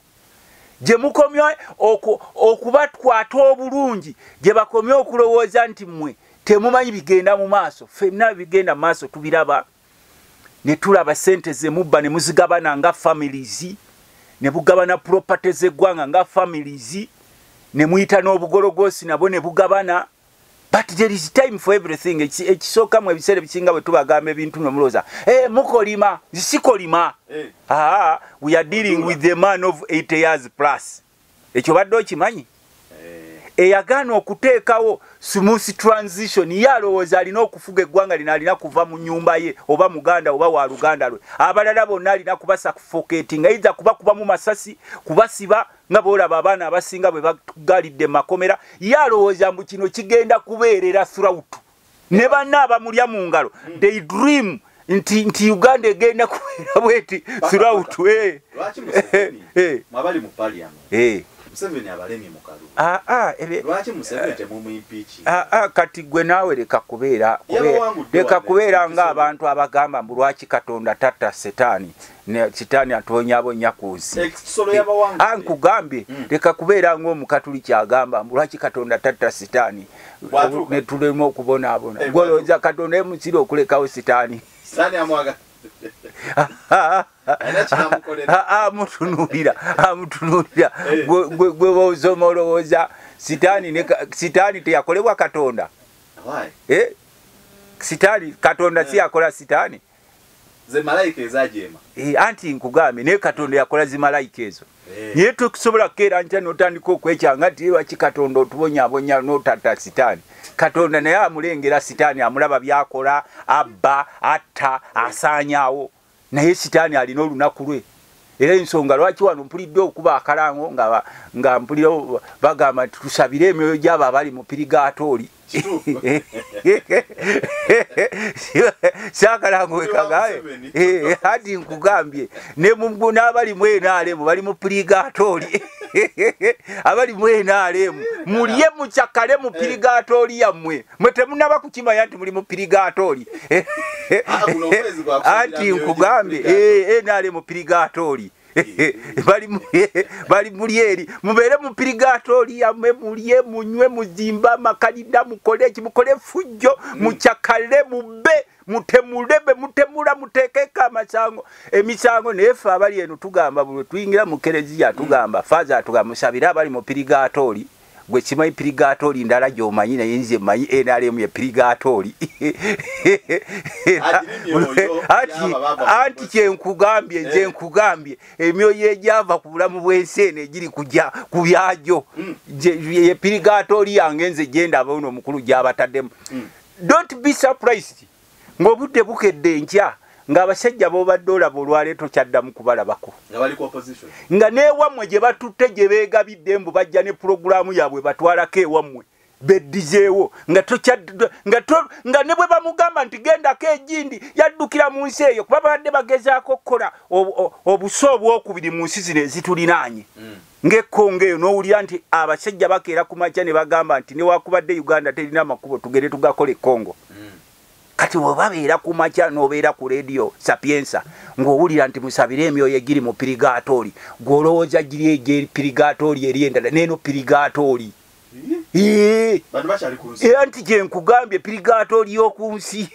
gye mukomye okubakwata obulungi gye bakomye okulowooza nti mmwe temumanyi bigenda mu maaso fenna bigenda mu maaso tubiraba ne tulaba ssente zemubba ne muzigabana nga families ne bugabana property z'eggwanga nga families ne muyita n'obugologoosi nabo ne bugabana but there is time for everything ekisooka mu ebiseera ebisinga bwe tubagamba ebintu no mulooza eh, mukolima sikolima eh. ah, we are dealing with the man of 8 years plus ekyo badde okimanyi eh. eyagaana okuteekawo smooth transition ye alowooza alina okufuga eggwanga lino alina kuva mu nyumba ye oba muganda oba wa luganda lwe abalala bonna alina kubasa kufoketinga eiza kuba kubamu masasi kubasiba nga bwolaba abaana abasinga bwe bagalidde makomera ye alowooza mbu kino kigenda kubeerera throut ne banna abamulya mu ngalo they dream nti nti uganda egenda kubeera bweti throut eh. eh. eh. ah, ah, ah, kati gwe naawe leka kubeera leka kubeera ngaabantu abagamba mbu lwaki katonda tatta setaani ne sitaani atonyaabonya ku nsi eh, ah, nkugambye hmm. leka kubeera ngaomukatuli kyagamba mbu lwaki katonda tatta sitaani ne tulema okubonaabona eh, gwolowooza katonda emusira okulekawo sitaani amutunuulira amutunuulira eh. gwe bosoma olowooza sitaani teyakolebwa katonda sitaani katonda siyakola sitaani Ze malaika ezajeema. Eh anti nkugambye ne Katonda yakola zi malaika ezo. Eh. Naye tukusobola kukeera ntya n'otandika okwekyanga nti lwaki Katonda otubonyabonya n'otatta sitaani. Katonda naye amulengera sitaani amulaba byakola abba atta asaanyaawo naye sitaani alina olunaku lwe. era ensonga lwaki wano mpulidde okuba akalango nga mpulira bagamba nti tusabire emyoyo gyabo abali mu pirigatooli kyakalango wekagaye eh, hadi nkugambye n'abali mu enaalemu bali mu pirigatooli abali mu enaalemu mulye mucakale mu pirigatooli yammwe mwe temunaba kukimanya nti muli mu pirigatooli ah, anti nkugambye eh, eh, nali mu pirigatooli bali muli eri mubeere mu pirigatooli yamwe mulye munywe muzimbe amakalida mukole eki mukole fujjo mm. mucakale mubbe mutemule be mutemula muteekeko amasango emisango naye ffe abali eno tugamba bulwe tuyingira mu kereziya tugamba mm. faza tugamba musabire abali mu pirigatooli gwe kimanyi pirigatooli ndala gyomanyi naye nze manyi nrm ye pirigatooli anti kyenkugambye nze eh. nkugambye emyoyo egyava ku bulamu bw'ensi eno egiri kuja ku byagyo hmm. ye pirigatooli yange nze gyendaba ono omukulu gyabataddemu hmm. don't be surprised ng'obudde bukedde enkya ng'abasajja b'obadde olaba olwaleero tokyaddamu kubalabako nga n'ewammwe gye batutte gye beegabidde mbu bajja ne pulogulaamu yaabwe batwalako ewammwe beddizeewo nga ne bwe bamugamba nti gendako egindi yaddukira mu nsi eyo kuba babadde bagezaako okukola obusa obwokubiri mu nsi zino ezitulinaanye mm. ng'ekkonga eyo n'owulira nti abasajja bakeera ku makya ne bagamba nti newakubadde uganda terina amakubo tugende tugakola ekkongo mm. kati webabeera ku makya n'obeera ku leediyo sapiensa ng'owulira nti musabire emyoyo egiri mu pirigatooli gw'olowooza giri egye pirigatooli eri endala neeno pirigatooli era nti kyenkugambye pirigaato ly'oku nsi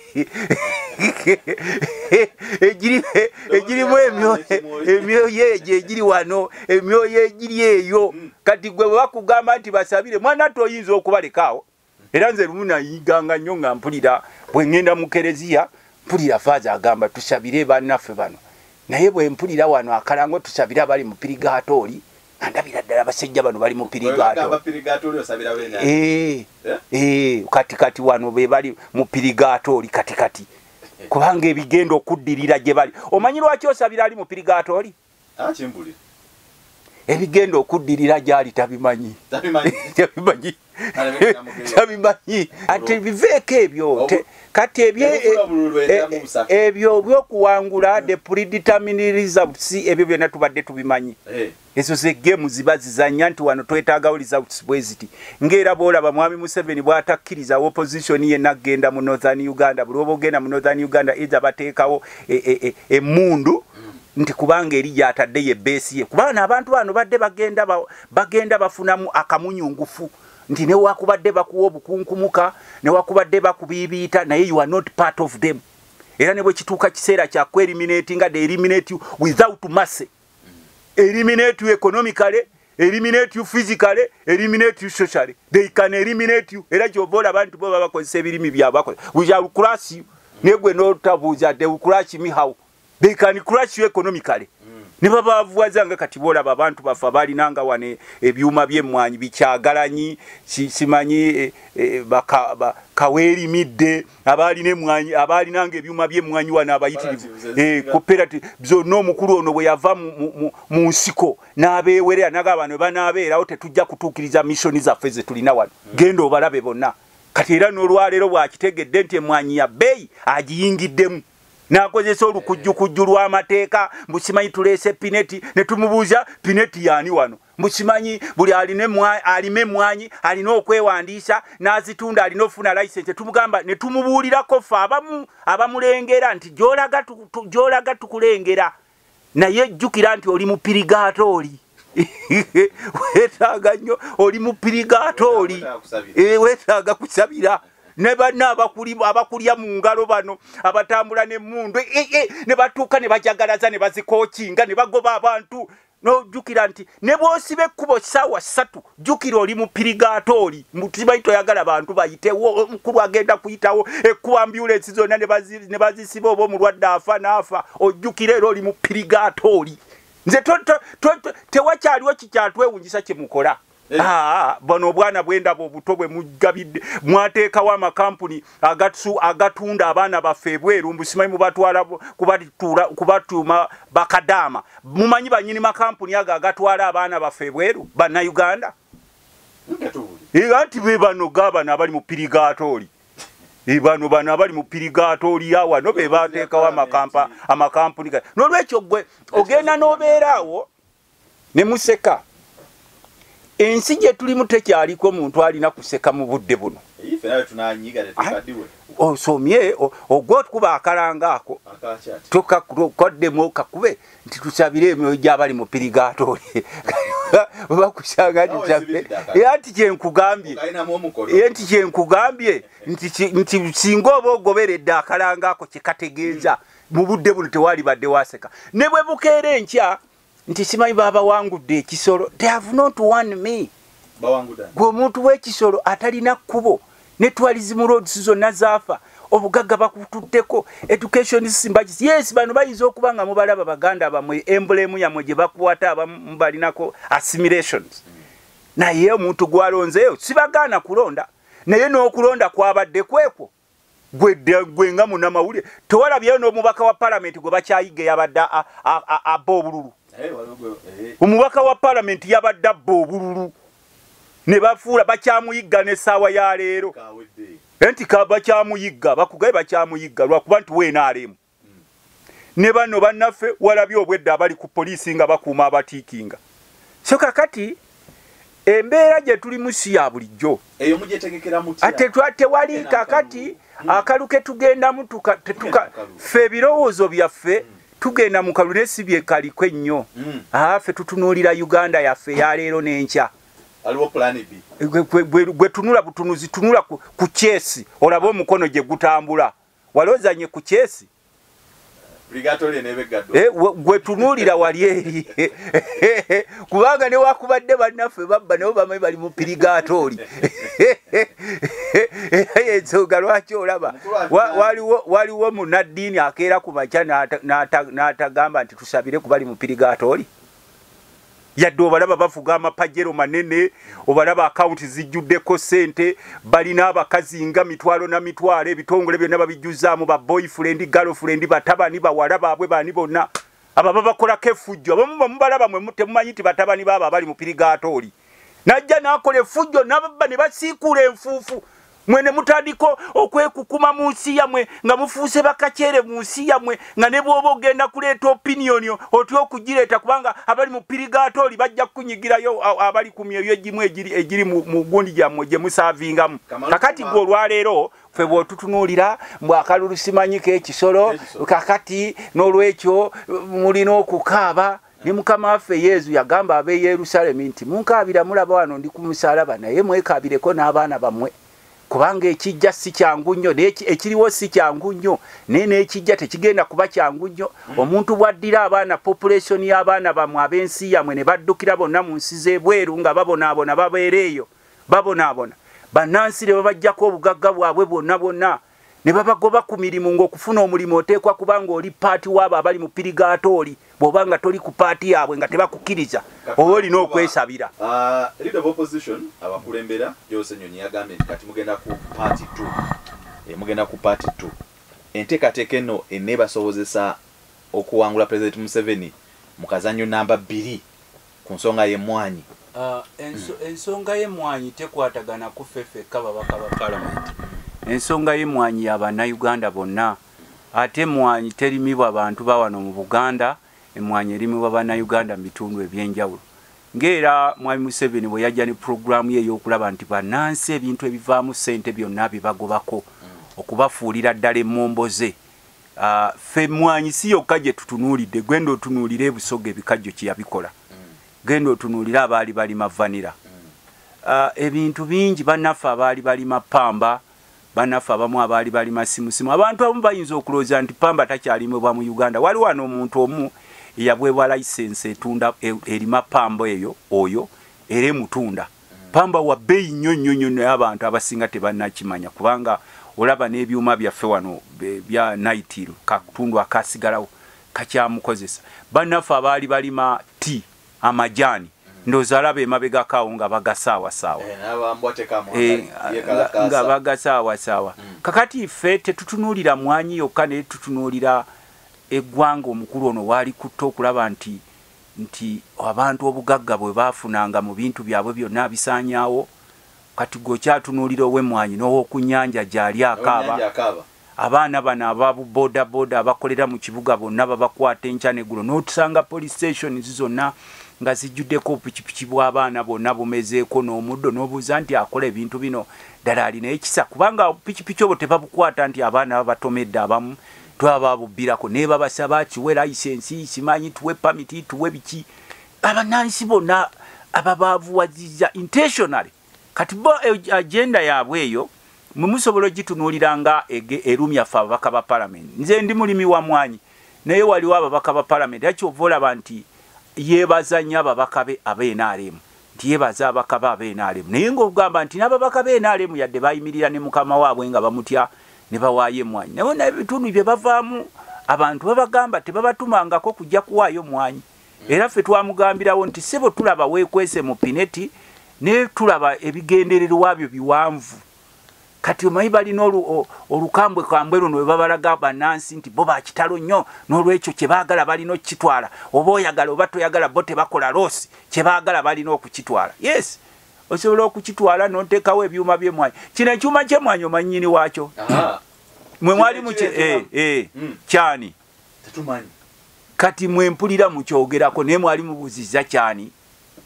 egirimu emyoyo egyo egiri wano emyoyo egiri eyo hmm. kati gwe bwebakugamba nti basabire mwana ate oyinza okubalekaawo era nze lumu nayiganga nnyo nga mpulira bwe ŋŋenda mu kereziya mpulira faaza agamba tusabire bannaffe bano naye bwe mpulira wano akalango tusabire abali mu pirigaato oli andabira ddala abasajja bano bali mupirigaatokatikati wano bebali mupirigato oli katikati kubanga ebigenda okuddirira gye bali omanyi lwaki osabira ali mupirigato oli ah, ebigenda okuddirira gyali tabimanyi kyabimanyi ate biveeko ebyo kati e, e, ebyo byokuwangula hmm. the predeterminresults ebyo byonna tubadde tubimanyi eh. ezo zegemu ziba zizanya nti wano twetagawo results bweziti ngaera bwolaba mwami museveni bwatakkiriza opposition yena agenda mu northern uganda bulwoba ogenda mu northern uganda eitha bateekawo emundu e, e, e, hmm. nti kubanga eri gyatadde ye beesi ye kubaana abantu bano badde bagenda bagenda bafunamu akamunyungufu nti newakubadde bakuwa obukunkumuka newakubadde bakubiibiita naye you are not part of them era ne bwe kituuka kiseera kya kueriminati nga de eriminati without masse eliminate you economically eliminate you physically eliminate you socially they can eliminate you era kyova olaba nti bo babakozesa ebirimi byabakola we shall crush you negwe notabuuza they will crush me how they can crush you economically mm. ne babavuwaza nga kati boolaba abantu bafa balina nga wane ebyuma byemmwanyi bikyagalanyi simanyi e, e, kaweerimidde abaalina emmwanyi abaalina nga ebyuma byemmwanyi wano abayitirivu e, cooperative zonna omukulu ono bwe yava mu nsiko n'abeewerera naga abantu bwe banaabeerawo tetujja kutuukiriza missoni zaffe ze tulina wano mm. genda obalabe bonna kati era n'olwaleero bw'akitegedde nti emmwanyi ya bbeeyi agiyingiddemu nakozesa olukujjukujju lw'amateeka mbu simanyi tuleese pineti ne tumubuuza pineti yaani wano mbu simanyi buli alima emmwanyi alina okwewandiisa n'azitunda alina okufuna layisensi tumugamba ne tumubuulirako ffe abamu abamulengera nti gyolaga tukulengera naye jjukira nti oli mupirigaato oli wetaaga nnyo oli mupirigaato oli eh, wetaaga kusabira ne banna abakulya mu ngalo bano abatambula n'emmundu eh, eh, ne batuuka ne bajagalaza ne bazikookinga ne bagoba abantu n'ojjukira nti ne bw'osiba ekkubo ssaawa ssatu jukira oli mupirigatori mbukimanyi toyagala bantu bayitewo omukulu agenda kuyitawo ekkubo ambulensi zonna ne bazisiba oba omulwadde afa naafa ojjukira era oli mupirigatori nze tewakyaliwo kikyatwewunyisa kyemukola eh. ah, ah, ah. bano obwana bwendaba obuto bwe mugabidde mwateekawo amakampuni agatsu agatunda abaana baffe ebweru mbu simanyi mubatwala kubatuula kubatuuma bakadaama mumanyi banyini makampuni ago agatwala abaana baffe ebweru bannayuganda era nti be bano gabano abali mu pirigatooli e bano bano abali mu pirigatooli yawano be bateekawo amakampuni nolwekyo gwe ogenda n'obeeraawo ne museka ensi gye tulimu tekyaliko muntu alina kuseka mu budde buno osomye ogwa okukuba akalanga ako tokaddemu kakube nti tusabire emyoyo gyabali mu pirigatoli bakusanga nti kyenkugambye nti kyenkugambye nti singa oba ogoberedde akalanga ako kyekategeeza mu budde buno tewalibadde waseka ne bwe bukeera enkya nti simanyi babawangudde ekisolo they have not one me gwe omuntu wekisolo atalina kkubo netwalizimu roads zonna zaafa obugagga bakututteko education simbagis yes bano bayinza okuba nga mubalaba baganda bamwe embulemu yamwe gye bakwata abamu balinako assimilations naye omuntu gwalonzeeyo sibagaana kulonda naye n'okulonda kwabadde kwekwo gwe nga munamawulire tewalabyeyo n'omubaka wa palamenti gwe bakyayigga yabadde abba obululu omubaka wa palamenti yabadde abba obululu ne bafuula bakyamuyigga n'essaawa ya leero nti bakyamuyigga bakugaye bakyamuyigga lwakuba nti weenaalemu ne bano bannaffe walabye obwedda abali ku poliisi nga bakuuma abatiikinga so kakati embeera gye tulimu si ya bulijjo ate tewali kakati akalu ke tugendamu ffe ebirowoozo byaffe mm. tugenda mu kalu naye si byekaliko ennyo mm. aa ffe tutunuulira uganda yaffe yaleero n'enkya gwe tunula butunuzi tunula ku kyesi olaba omukono gye gutambula wali ozanye ku chesi eh, gwe tunuulira wali eri kubanga newakubadde bannaffe babba nabo bamanyi bali mu pirigatooli ensonga lwaki olaba waliwo munaddiini akeera ku makya n'atagamba nti tusabire kubali mu pirigatooli yadde obalaba bavuga amapajero manene obalaba akawunti zijjuddeko ssente balina abakazi nga mitwalo na mitwalo ebitongole byonna babijjuzaamu ba boyfrendi galfrendi batabani bawala baabwe baani bonna abo babakolako efujjo abamu bamubalaba mwe temumanyi nti batabani baabo abali mupirigaatooli najja n'akola efujjo nababba ne basiikuula enfuufu mwe ne mutandika okwekukuma mu nsi yamwe nga mufuuse bakakyere mu nsi yamwe nga ne bwoba ogenda kuleeta opiniyoni otya okugireeta kubanga abali mu pirigaatooli bajja kukunyigirayo abali ku myoyo egimu egiri mu gundi gyammwe gye musaavingamu kakati gwe olwaleero fe bwotutunuulira mbu akalulu simanyiko ekisolo kakati n'olwekyo mulina okukaaba ne mukama waffe yezu yagamba ab'e yerusalemi nti munkaabira mulaba wano ndi ku musalaba naye mwekaabireko n'abaana bammwe kubanga ekijja si kyangu nnyo ekiriwo si kyangu nnyo naye n'ekijja tekigenda kuba kyangu nnyo mm. omuntu bw'addira abaana population y'abaana bammwe ab'ensi yammwe ne baddukira bonna mu nsi z'ebweru nga babonaabona babeera eyo babonaabona bannansi ne babajjako obugagga bwabwe bwonna bwonna ne babagoba ku mirimu ng'okufuna omulimu oteekwa kuba ng'oli paati waabo abali mu pirigatooli bw'oba nga toli ku paati yaabwe nga tebakukkiriza oba olina okwesabira ah, eh, mugenda ku paati t enteekateeka eno eneebasobozesa okuwangula pulezidenti museveni mu kazannyo namba bbiri ku nsonga y'emmwaanyi. Ensonga y'emmwaanyi tekwatagana ku ffe ffekka babaka ba palamenti. Ensonga y'emmwaanyi ya Bannayuganda bonna. Ate emmwaanyi terimibwa bantu ba wano mu Buganda, emmwaanyi erimibwa Bannayuganda mu bitundu eby'enjawulo. Ng'era Mwami Museveni bwe yajja ne pulogulaamu ye ey'okulaba nti bannansi ebintu ebivaamu ssente byonna abibagobako, okubafuulira ddala emmomboze Ah, ffe mwanyi si yokka gye tutunuulidde genda otunuulira ebusoga ebikajjo kyeyabikola genda otunuulire abaali balima vanira ah, ebintu bingi banaffe abaali balima pamba banaffe abamu abaali balima simusimu abantu abamu bayinza okulowooza nti pamba takyalimibwa mu uganda waliwo ano omuntu omu eyabwebwa layisensi etunda e, erima pamba eyo oyo era emutunda Pamba wa beyi nyo nyo nyo naye abantu abasinga tebanakimanya kubanga olaba n'ebyuma byaffe wano bya naitiro kakutundu akasigalawo kakyamukozesa bannaffe abaali balima ti amajaani ndoza alaba emabegako awo nga bagasaawasaawa eh, eh, nga bagasaawasaawa mm. kakati ffe tetutunuulira mwanyi yokka naye tutunuulira eggwanga omukulu ono waali kutta okulaba nti nti abantu obugagga bwe baafunanga mu bintu byabwe byonna abisaanyaawo, kati ggwe okyatunuulira ow'emmwanyi n'ow'oku nnyanja gy'ali akaaba, abaana bano aba bu bodaboda abakolera mu kibuga bonna babakwata enkya n'eggulo n'otusanga police stations zonna nga zijjuddeko obupikipiki bw'abaana bonna bumezeeko n'omuddo n'obuuza nti akola ebintu bino ddala alina ekisa kubanga obupikipiki obwo tebabukwata nti abaana babatomedde abamu twababubbirako nebabasaba kiwe layisensi simanyi tuwe pamiti tuwe biki abanansi bona ababavuwaziza intentionally kati bo eh, agenda yaabwe eyo mwemusobola ogitunuulira nga erumya fe ababaka ba palamenti nze ndi mulimi wa mwanyi naye waliwo ababaka ba palamenti akyova olaba nti yebaza nnyo ababaka be abenaremu nti yebaza abaka ba BNRM naye nga ogamba nti n'ababaka BNRM yadde bayimirira ne mukama waabwe nga bamutya ne bawaayo emmwanyi naye naye bitundu bye bavaamu abantu babagamba tebabatumangako kujja kuwaayo mmwanyi era ffe twamugambirawo nti sebo tulaba weekwese mu pineti naye tulaba ebigendererwa byo biwanvu kati omanyi balina olukambwe kambwe luno webabalaga banansi nti bo bakitalo nnyo n'olwekyo kyebaagala balina okukitwala oba oyagala oba toyagala bo tebakola loosi kyebaagala balina okukitwala yes osobola okukitwala notekawo ebyuma byemwanyi kino ekyuma kyemwanyi omanyini wakyo mwe mwali muky eh, eh, hmm. kyani kati mwempulira mukyogerako naye mwali mubuziza kyani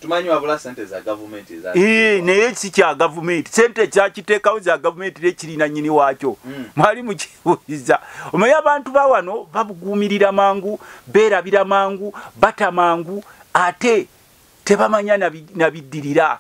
tumanyi wabula sente za gavumenti eza ee naye si kya gavumenti sente ekyakiteekawo za gavumenti era ekirina nyini waakyo mm. mwali mukibuuliza omaye abantu ba wano babuguumirira mangu beerabira mangu bata mangu ate tebamanya nabiddirira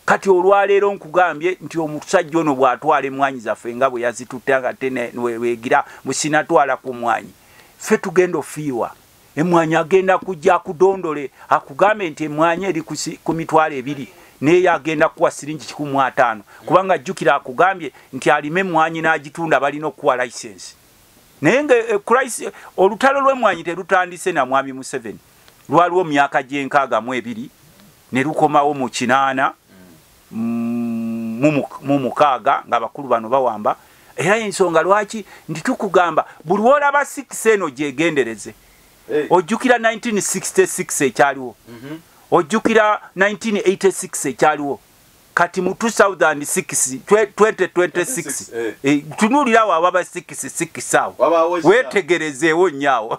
kati olwaleero nkugambye nti omusajja ono bw'atwala emmwanyi zaffe nga bwe yazitutte nga tewegira musinatwala ku mmwanyi ffe tugenda ofiirwa emwanyi agenda kujja akudondole akugambe nti emwanyi eri ku mitwalo ebiri naye agenda kuwa siringi kikumu ataano kubanga jjukira akugambye nti alime emwanyi n'agitunda balina okuwa license naye nga eh, olutalo lw'emwanyi terutandise na mwami museveni lwaliwo myaka gy'enkaaga mu ebiri ne lukomawo mu kinaana mu mukaaga ng'abakulu bano bawamba era ensonga lwaki nti tukugamba buli wolaba six eno gyegendereze ojjukira 1966 ekyaliwo mhm. ojjukira 1986 ekyaliwo kati mu 2026 eh. eh, tunuulirawo awaba sikisi sikisaawo wetegerezeewo nyaawo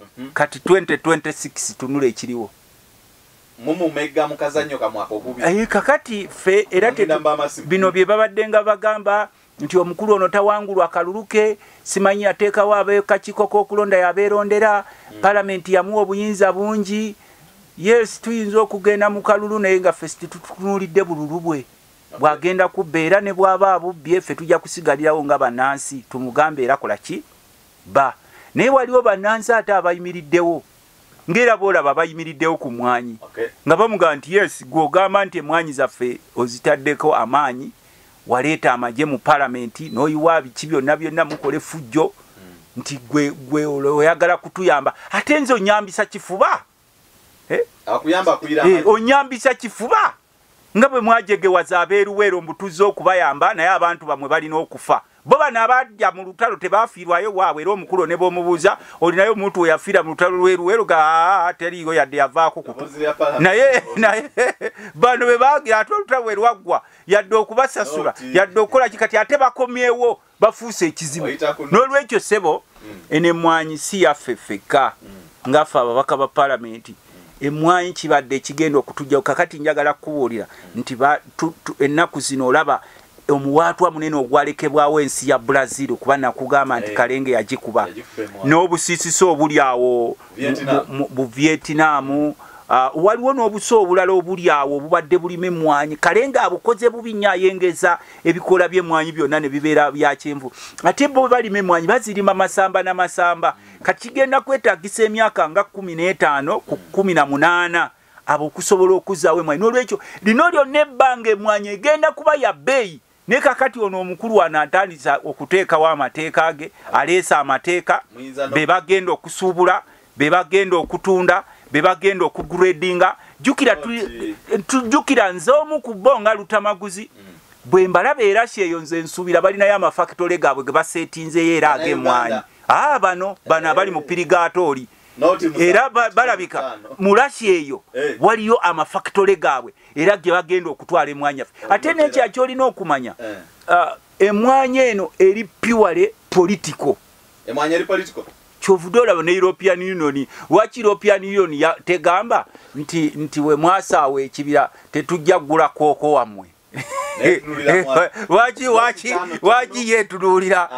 mhm. kati 2026 tunula ekiriwo mumumega mukazanyo kamwaka ogubi ayi eh, kakati fe era te bino bye babadde nga bagamba nti omukulu ono tawangulwa akaluluke simanyi ateekawo abekakiko k'okulonda yabeerondera hmm. palamenti yamuwa obuyinza bungi yes tuyinza okugenda mu kalulu naye nga fesi tetutunuulidde bululu bwe bwagenda kubba era ne bwaba abubbye ffe tujja kusigalirawo nga bannansi tumugambe era kola ki ba naye waliwo banansi ate abayimiriddewo ngaera boolaba bayimiriddewo ku mwanyi nga bamugamba nti yes gwogamba nti emwanyi zaffe ozitaddeko amaanyi waleeta amagye mu palamenti noyiwa biki byonna byonna mukola efujjo hmm. nti gwe oyagala kutuyamba ate nze onyambisa kifuba eh? Eh, onyambisa kifuba nga bwe mwajegewaza abeeruweero mbu tuzze okubayamba naye abantu bamwe balina okufa bo bano abajja mu lutalo tebaafiirwayo waabwe era omukulu ne boomubuuza olinayo omuntu we yafiira mu lutalo lweruweero ga teriiyo yadde yavaako kutu naye naye bano be baagira ate olutalo bwe lwaggwa yadde okubasasula yadde okukola ki kati ate bakomyewo bafuuse ekizibu n'olwekyo ssebo hmm. eno emmwanyi si yaffe ffekka hmm. ngaffe ababaka ba palamenti hmm. emmwanyi kibadde ekigenda okutujjao kakati njagala kukubuulira nti ennaku zino olaba omuwaatwa munene ogwalekebwawo ensi ya brazil kuba nakugamba nti eh. kalenge yagikuba n'obusiisisa obuli awo mu vietinamu ah, waliwo n'obusa obulala obuli awo obubadde bulima emmwanyi kalenge abukoze bubi nyo ayengeza ebikoola by'emmwanyi byonna ne bibeera bya kyenvu ate bo balima emmwanyi bazirima masamba na masamba kakigenda kwetagisa emyaka nga kumi n'etaano ku kumi na munaana abo okusobola okuzaawo emmwanyi n'olwekyo lino lyonna ebbanga emmwanyi egenda kuba ya bbeeyi naye kakati ono omukulu wano atandisa okuteekawo amateeka ge aleese amateeka be bagenda okusuubula be bagenda okutunda be bagenda okugradinga jukira nze omu ku bo nga lutamaguzi mm. bwe mbalaba era kyeyo nze nsuubira balinayo amafakitole gaabwe ge baseetinzeyo era ag'emwanyi aa ah, bano bano abali mu pirigatooli era balabika mulasi eyo eh. waliyo amafakitole gaabwe era ge bagenda okutwala emwanyi affe ate nekya kyolina okumanya eh. ah, emwanyi eno eri piwale politiko emwanyi eri political kyovude olaba ne european union waki european union tegamba nti nti we mwasaawo ekibira tetujja kugula kooko wammwe waki waki waki yetunuulira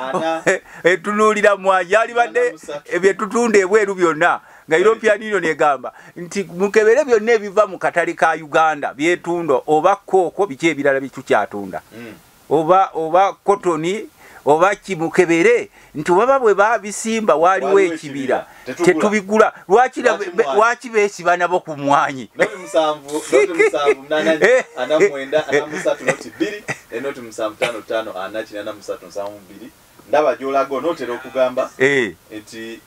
etunuulira mwaji alibadde ebyetutunda ebweru byonna nga european union egamba nti mukebere byonna ebiva mu katale ka uganda byetunda oba kooko biki ebirala bitukyatunda mm. oba oba kotoni oba kimukebere nti baba bwe babisimba waliwo ekibira tetubigula lwaki lwaki besiba nabo ku mwanyi ndaba gyolaga onotera okugamba eh. nti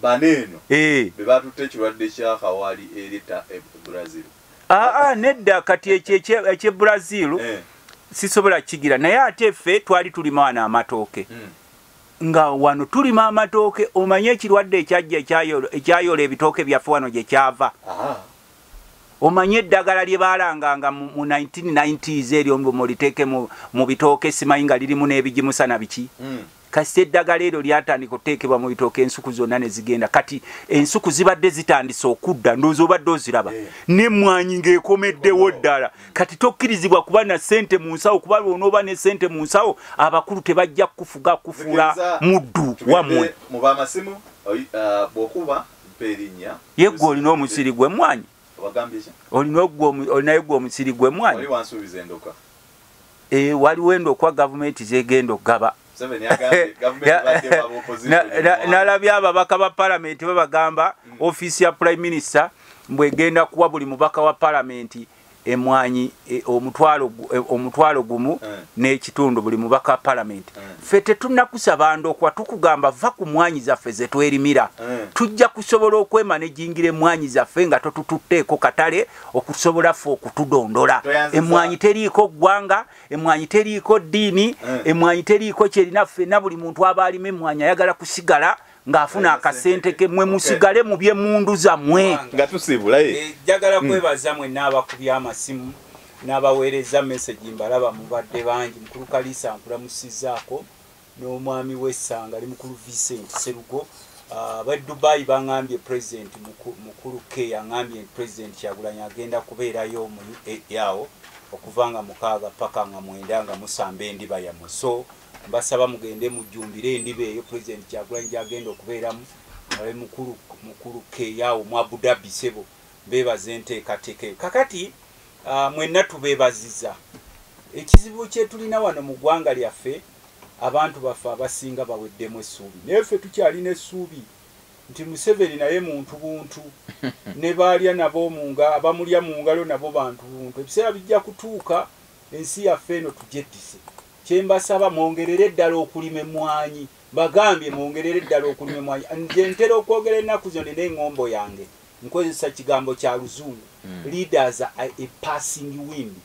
bano eno eh. bebatutte ekirwadde kya kawali eri e brazil aa nedda kati ekyo ekye brazil eh. sisobola kigira naye ate ffe twali tulima wano amatooke hmm. nga wano tulima amatooke omanye ekirwadde ekyajja ekyayola ebitooke byaffe wano gye kyava omanye eddagala lye baalanganga mu 1990s eryo mbu muliteeke mu bitooke simanyi nga lirimu n'ebigimusana biki hmm. kasita eddagala eryo lyatandika okuteekebwa mu bitooka ensuku zonna ne zigenda kati ensuku zibadde zitandise okudda ndowooza obadde oziraba eh. n'emmwanyi ng'ekomeddewo ddala kati tokkirizibwa kuba na ssente mu nsawo kuba lwonooba ne ssente mu nsawo abakulu tebajja kukufuga kufuula muddu wammwe mu bamasimu uh, bw'okuba mpa erinnya yeggwe olina omusiri gw'emmwanyi olinayo gwe omusiri gw'emmwanyi eh, waliwo endo okuwa gavumenti zegenda okugaba nalabye ababaka ba palamenti babagamba mm. ofiisi ya prime minister mbwegenda kuwa buli mubaka wa palamenti emwanyi e, omutwalo e, omutwalo gumu eh. n'ekitundu buli mubaka wa palamenti eh. ffe tetunakusaba ndokwa tukugamba va ku mwanyi zaffe ze twerimira eh. tujja kusobola okwemana ejingira emwanyi zaffe nga totututteeko katale okusobola ffe okutudondola emwanyi teriiko ggwanga emwanyi teriiko ddiini eh. emwanyi teriiko kyerina ffena buli muntu aba alima emwanyi ayagala kusigala ng'afuna akasente ke mwe musigale mu byemundu zammwe nga tusiibulaye eh, njagala hmm. kwebaza mwenna abakubya amasimu n'abaweereza mesegi mbalaba mubadde bangi mukulu kaliisa nkulamusizaako n'omwami we Ssanga ali mukulu Vincent Sserugo ah, ba Dubai bangambye president mukulu ke yangambye nti president Kyagulanyi agenda kubeerayo mu UAE awo okuva nga mukaaga paka nga mwenda nga musamba endiba yamwe so mbasaba mugende mujjumbire endiba eyo president Kyagulanyi gyagenda okubeeramu nawe mukulu mukulu ke yawo mu Abu Dhabi sebo bebaze enteekateeka eyo kakati ah, mwenna tubeebaziza ekizibu kyetulina wano mu ggwanga lyaffe Abantu baffe abasinga baweddemu essuubi naye ffe tukyalina essuubi nti Museveni naye muntu buntu ne baalya nabo munga abamulya mu ngalo nabo bantu buntu. Ebiseera bijja kutuuka ensi yaffe eno tugyeddise. Kye mbasaba mwongerere ddala okulima emmwanyi, mbagambye mwongerere ddala okulima emmwanyi. Nze ntera okwogera ennaku zino nina eng'ombo yange nkozesa kigambo kya luzungu, hmm. leaders are a passing wind.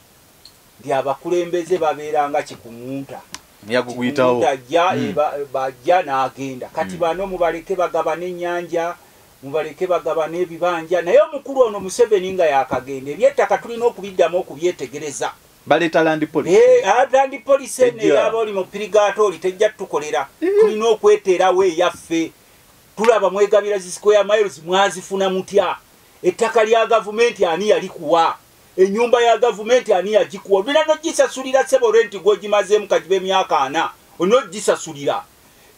nti abakulembeze babeera nga kikuŋunta ajja hmm. bajja n'agenda kati hmm. bano mubaleke bagaba n'ennyanja mubaleke bagaba n'ebibanja naye omukulu ono museveni nga yakagenda ebyettaka tulina okubiddamu okubyetegereza baleeta landi polisi eh, ah, landi polisi eno eyaba oli mu pirigaato oli tejja tutukolera eh. tulina okweteerawo eyaffe tulaba mwegabira zi square miles mwazifuna mutya ettaka lya gavumenti ani yalikuwa enyumba ya gavumenti ani yagikuwa olina nogisasulira sebo renti gwogimazeemu kagiba emyaka ana olina ogisasulira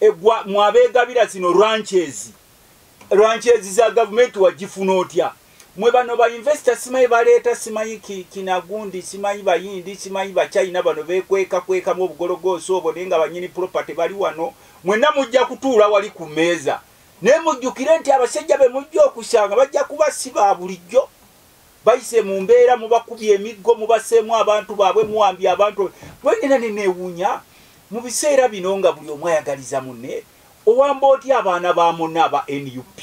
egwa mwabegabira zino ranches ranches za gavumenti wagifuna otya mwe bano bainvesita simanyi baleeta simanyi kinagundi simanyi bayindi simanyi bachina bano bekwekakwekamu obugologoosi obwo naye nga banyini property bali wano mwenna mujja kutuula wali ku meeza naye mujjukire nti abasajja be mujja okusanga bajja kuba si ba bulijjo bayise mu mbeera mubakubye emiggo mubaseemu abantu baabwe muwambye abantu bwenina neneewuunya mu biseera bino nga buli omu ayagaliza munne owamba oti abaana ba munne aba nup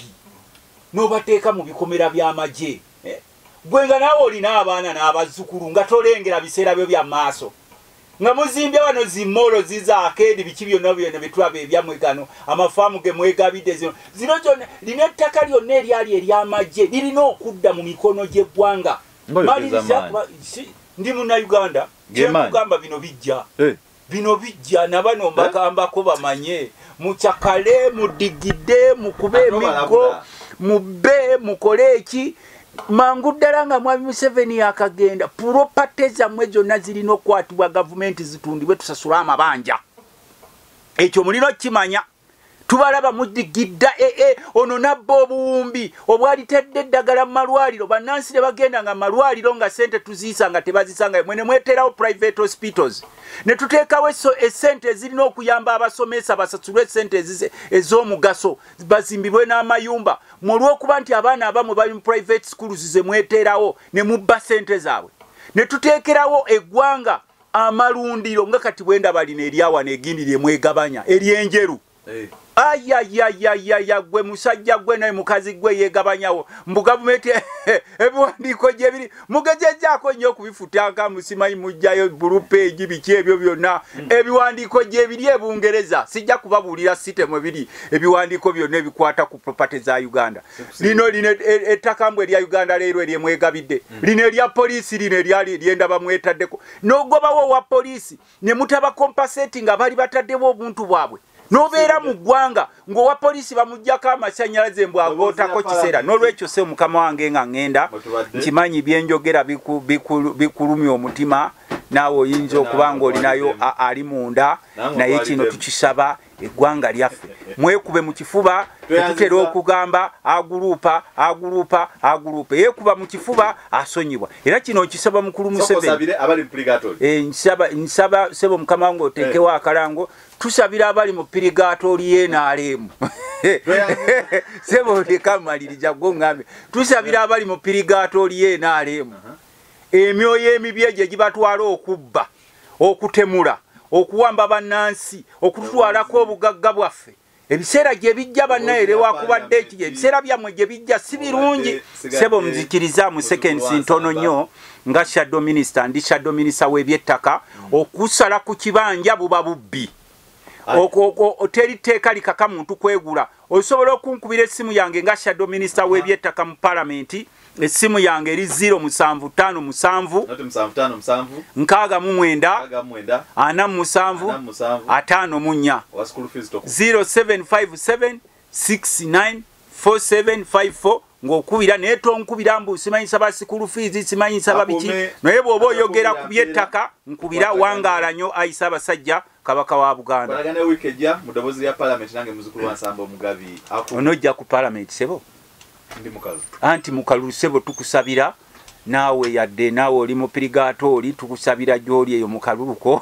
n'obateeka mu bikomera by'amagye eh? gwe nga naawe olina abaana n'abazzukulu nga tolengera biseera byo bya maaso nga muzimbye wano zimolo ziza akeedi biki byonna byona byetulaba ebyamwe gano amafaamu ge mwegabidde zino zino zona lina ettaka lyonna eryali eryamagye lirina okudda mu mikono gy'eggwanga ndi munauganda kyekugamba bino bijja eh. bino bijja nabano mbagambako eh? bamanye mucakale mudigide mukube emiggo mubbe mukole eki mangu ddala nga mwami museveni yakagenda puropate zammwe zonna zirina okukwatibwa gavumenti zitundibwe tusasula amabanja ekyo mulina okukimanya tubalaba mudigidda ee eh, eh, ono nabba obuwumbi obwalitadde eddagala mu malwaliro bannansi ne bagenda nga malwaliro nga sente tuziisa nga tebazisangayo mwene mweteerawo private hospitals ne tuteekawo esente ezirina okuyamba abasomesa basasulwe esente ez'omugaso bazimbibwe n'amayumba mwe olw'okuba nti abaana abamu bali mu private schools ze mweteerawo ne mubba ssente zaabwe ne tuteekerawo eggwanga amalundiro nga kati bwe ndaba lino eryawa negindi lye mwegabanya ery'enjeru eh. ayayayayaya gwe musajja gwe naye mukazi gwe yegabanyawo mbu gavumenti ebiwandiiko gyebiri mugezezzaako nnyo okubifutanka musimanyi mujjayo bulupeegi biki ebyo byonna hmm. ebiwandiiko gyebiri ebungereza sijja kubabuulira site mwe biri ebiwandiiko byonna ebikwata ku propaty za uganda lino lino e, e, ettaka mbu erya uganda leero eryemwegabidde hmm. lino erya poliisi lino eryali lyendaba mwetaddeko nogobawo owa poliisi ne mutaba compensate nga bali batadewo obuntu bwabwe nobeera mu ggwanga ng'owa poliisi bamuggyako amasanyalaze mbu agootako kiseera n'olwekyo se mukama wange nga ŋŋenda nkimanyi byenjogera bikulumya omutima naawe oyinza okuba ng'olinayo ali munda naye kino tukisaba eggwanga lyaffe mwekube mu kifuba tetutera okugamba aguluupa aguluupa aguluupa yekuba mu kifuba asonyibwa era kino nkisaba mukulu museveni eh, nsaba sebo mukama wange oteekewo eh. akalango tusabira abali mu pirigaato lyenaaleemu sebo oleka amalirija gwo ngambe tusabira abali mu pirigaato lyenaaleemu uh-huh. emyoyo emibi egyo egibatwala okubba okutemula okuwamba bannansi okututwalako obugagga bwaffe ebiseera gye bijja bannaye lewakubadde eki ebiseera byammwe gye bijja si birungi sebo muzikirizamu sekensi ntono nnyo nga shadow minisita ndi shadow minisita w'ebyettaka okusala ku kibanja buba bubbi teri tteeka likaka muntu kwegula osobola okunkubira essimu yange nga shadow minisita w'ebyettaka mu palamenti essimu yange eri 075757 0757 694754 ng'okubira naye tonkubira mbu simanyi nsaba sikulu fiizi simanyi nsaba biki naye bw'oba oyogera ku by'ettaka nkubira wangaala nnyo ayisa abasajja kabaka wa buganda onojja ku palamenti sebo anti mukalulu sebo tukusabira naawe yadde naawe oli mupirigaato oli tukusabira gy'oli eyo mukaluluko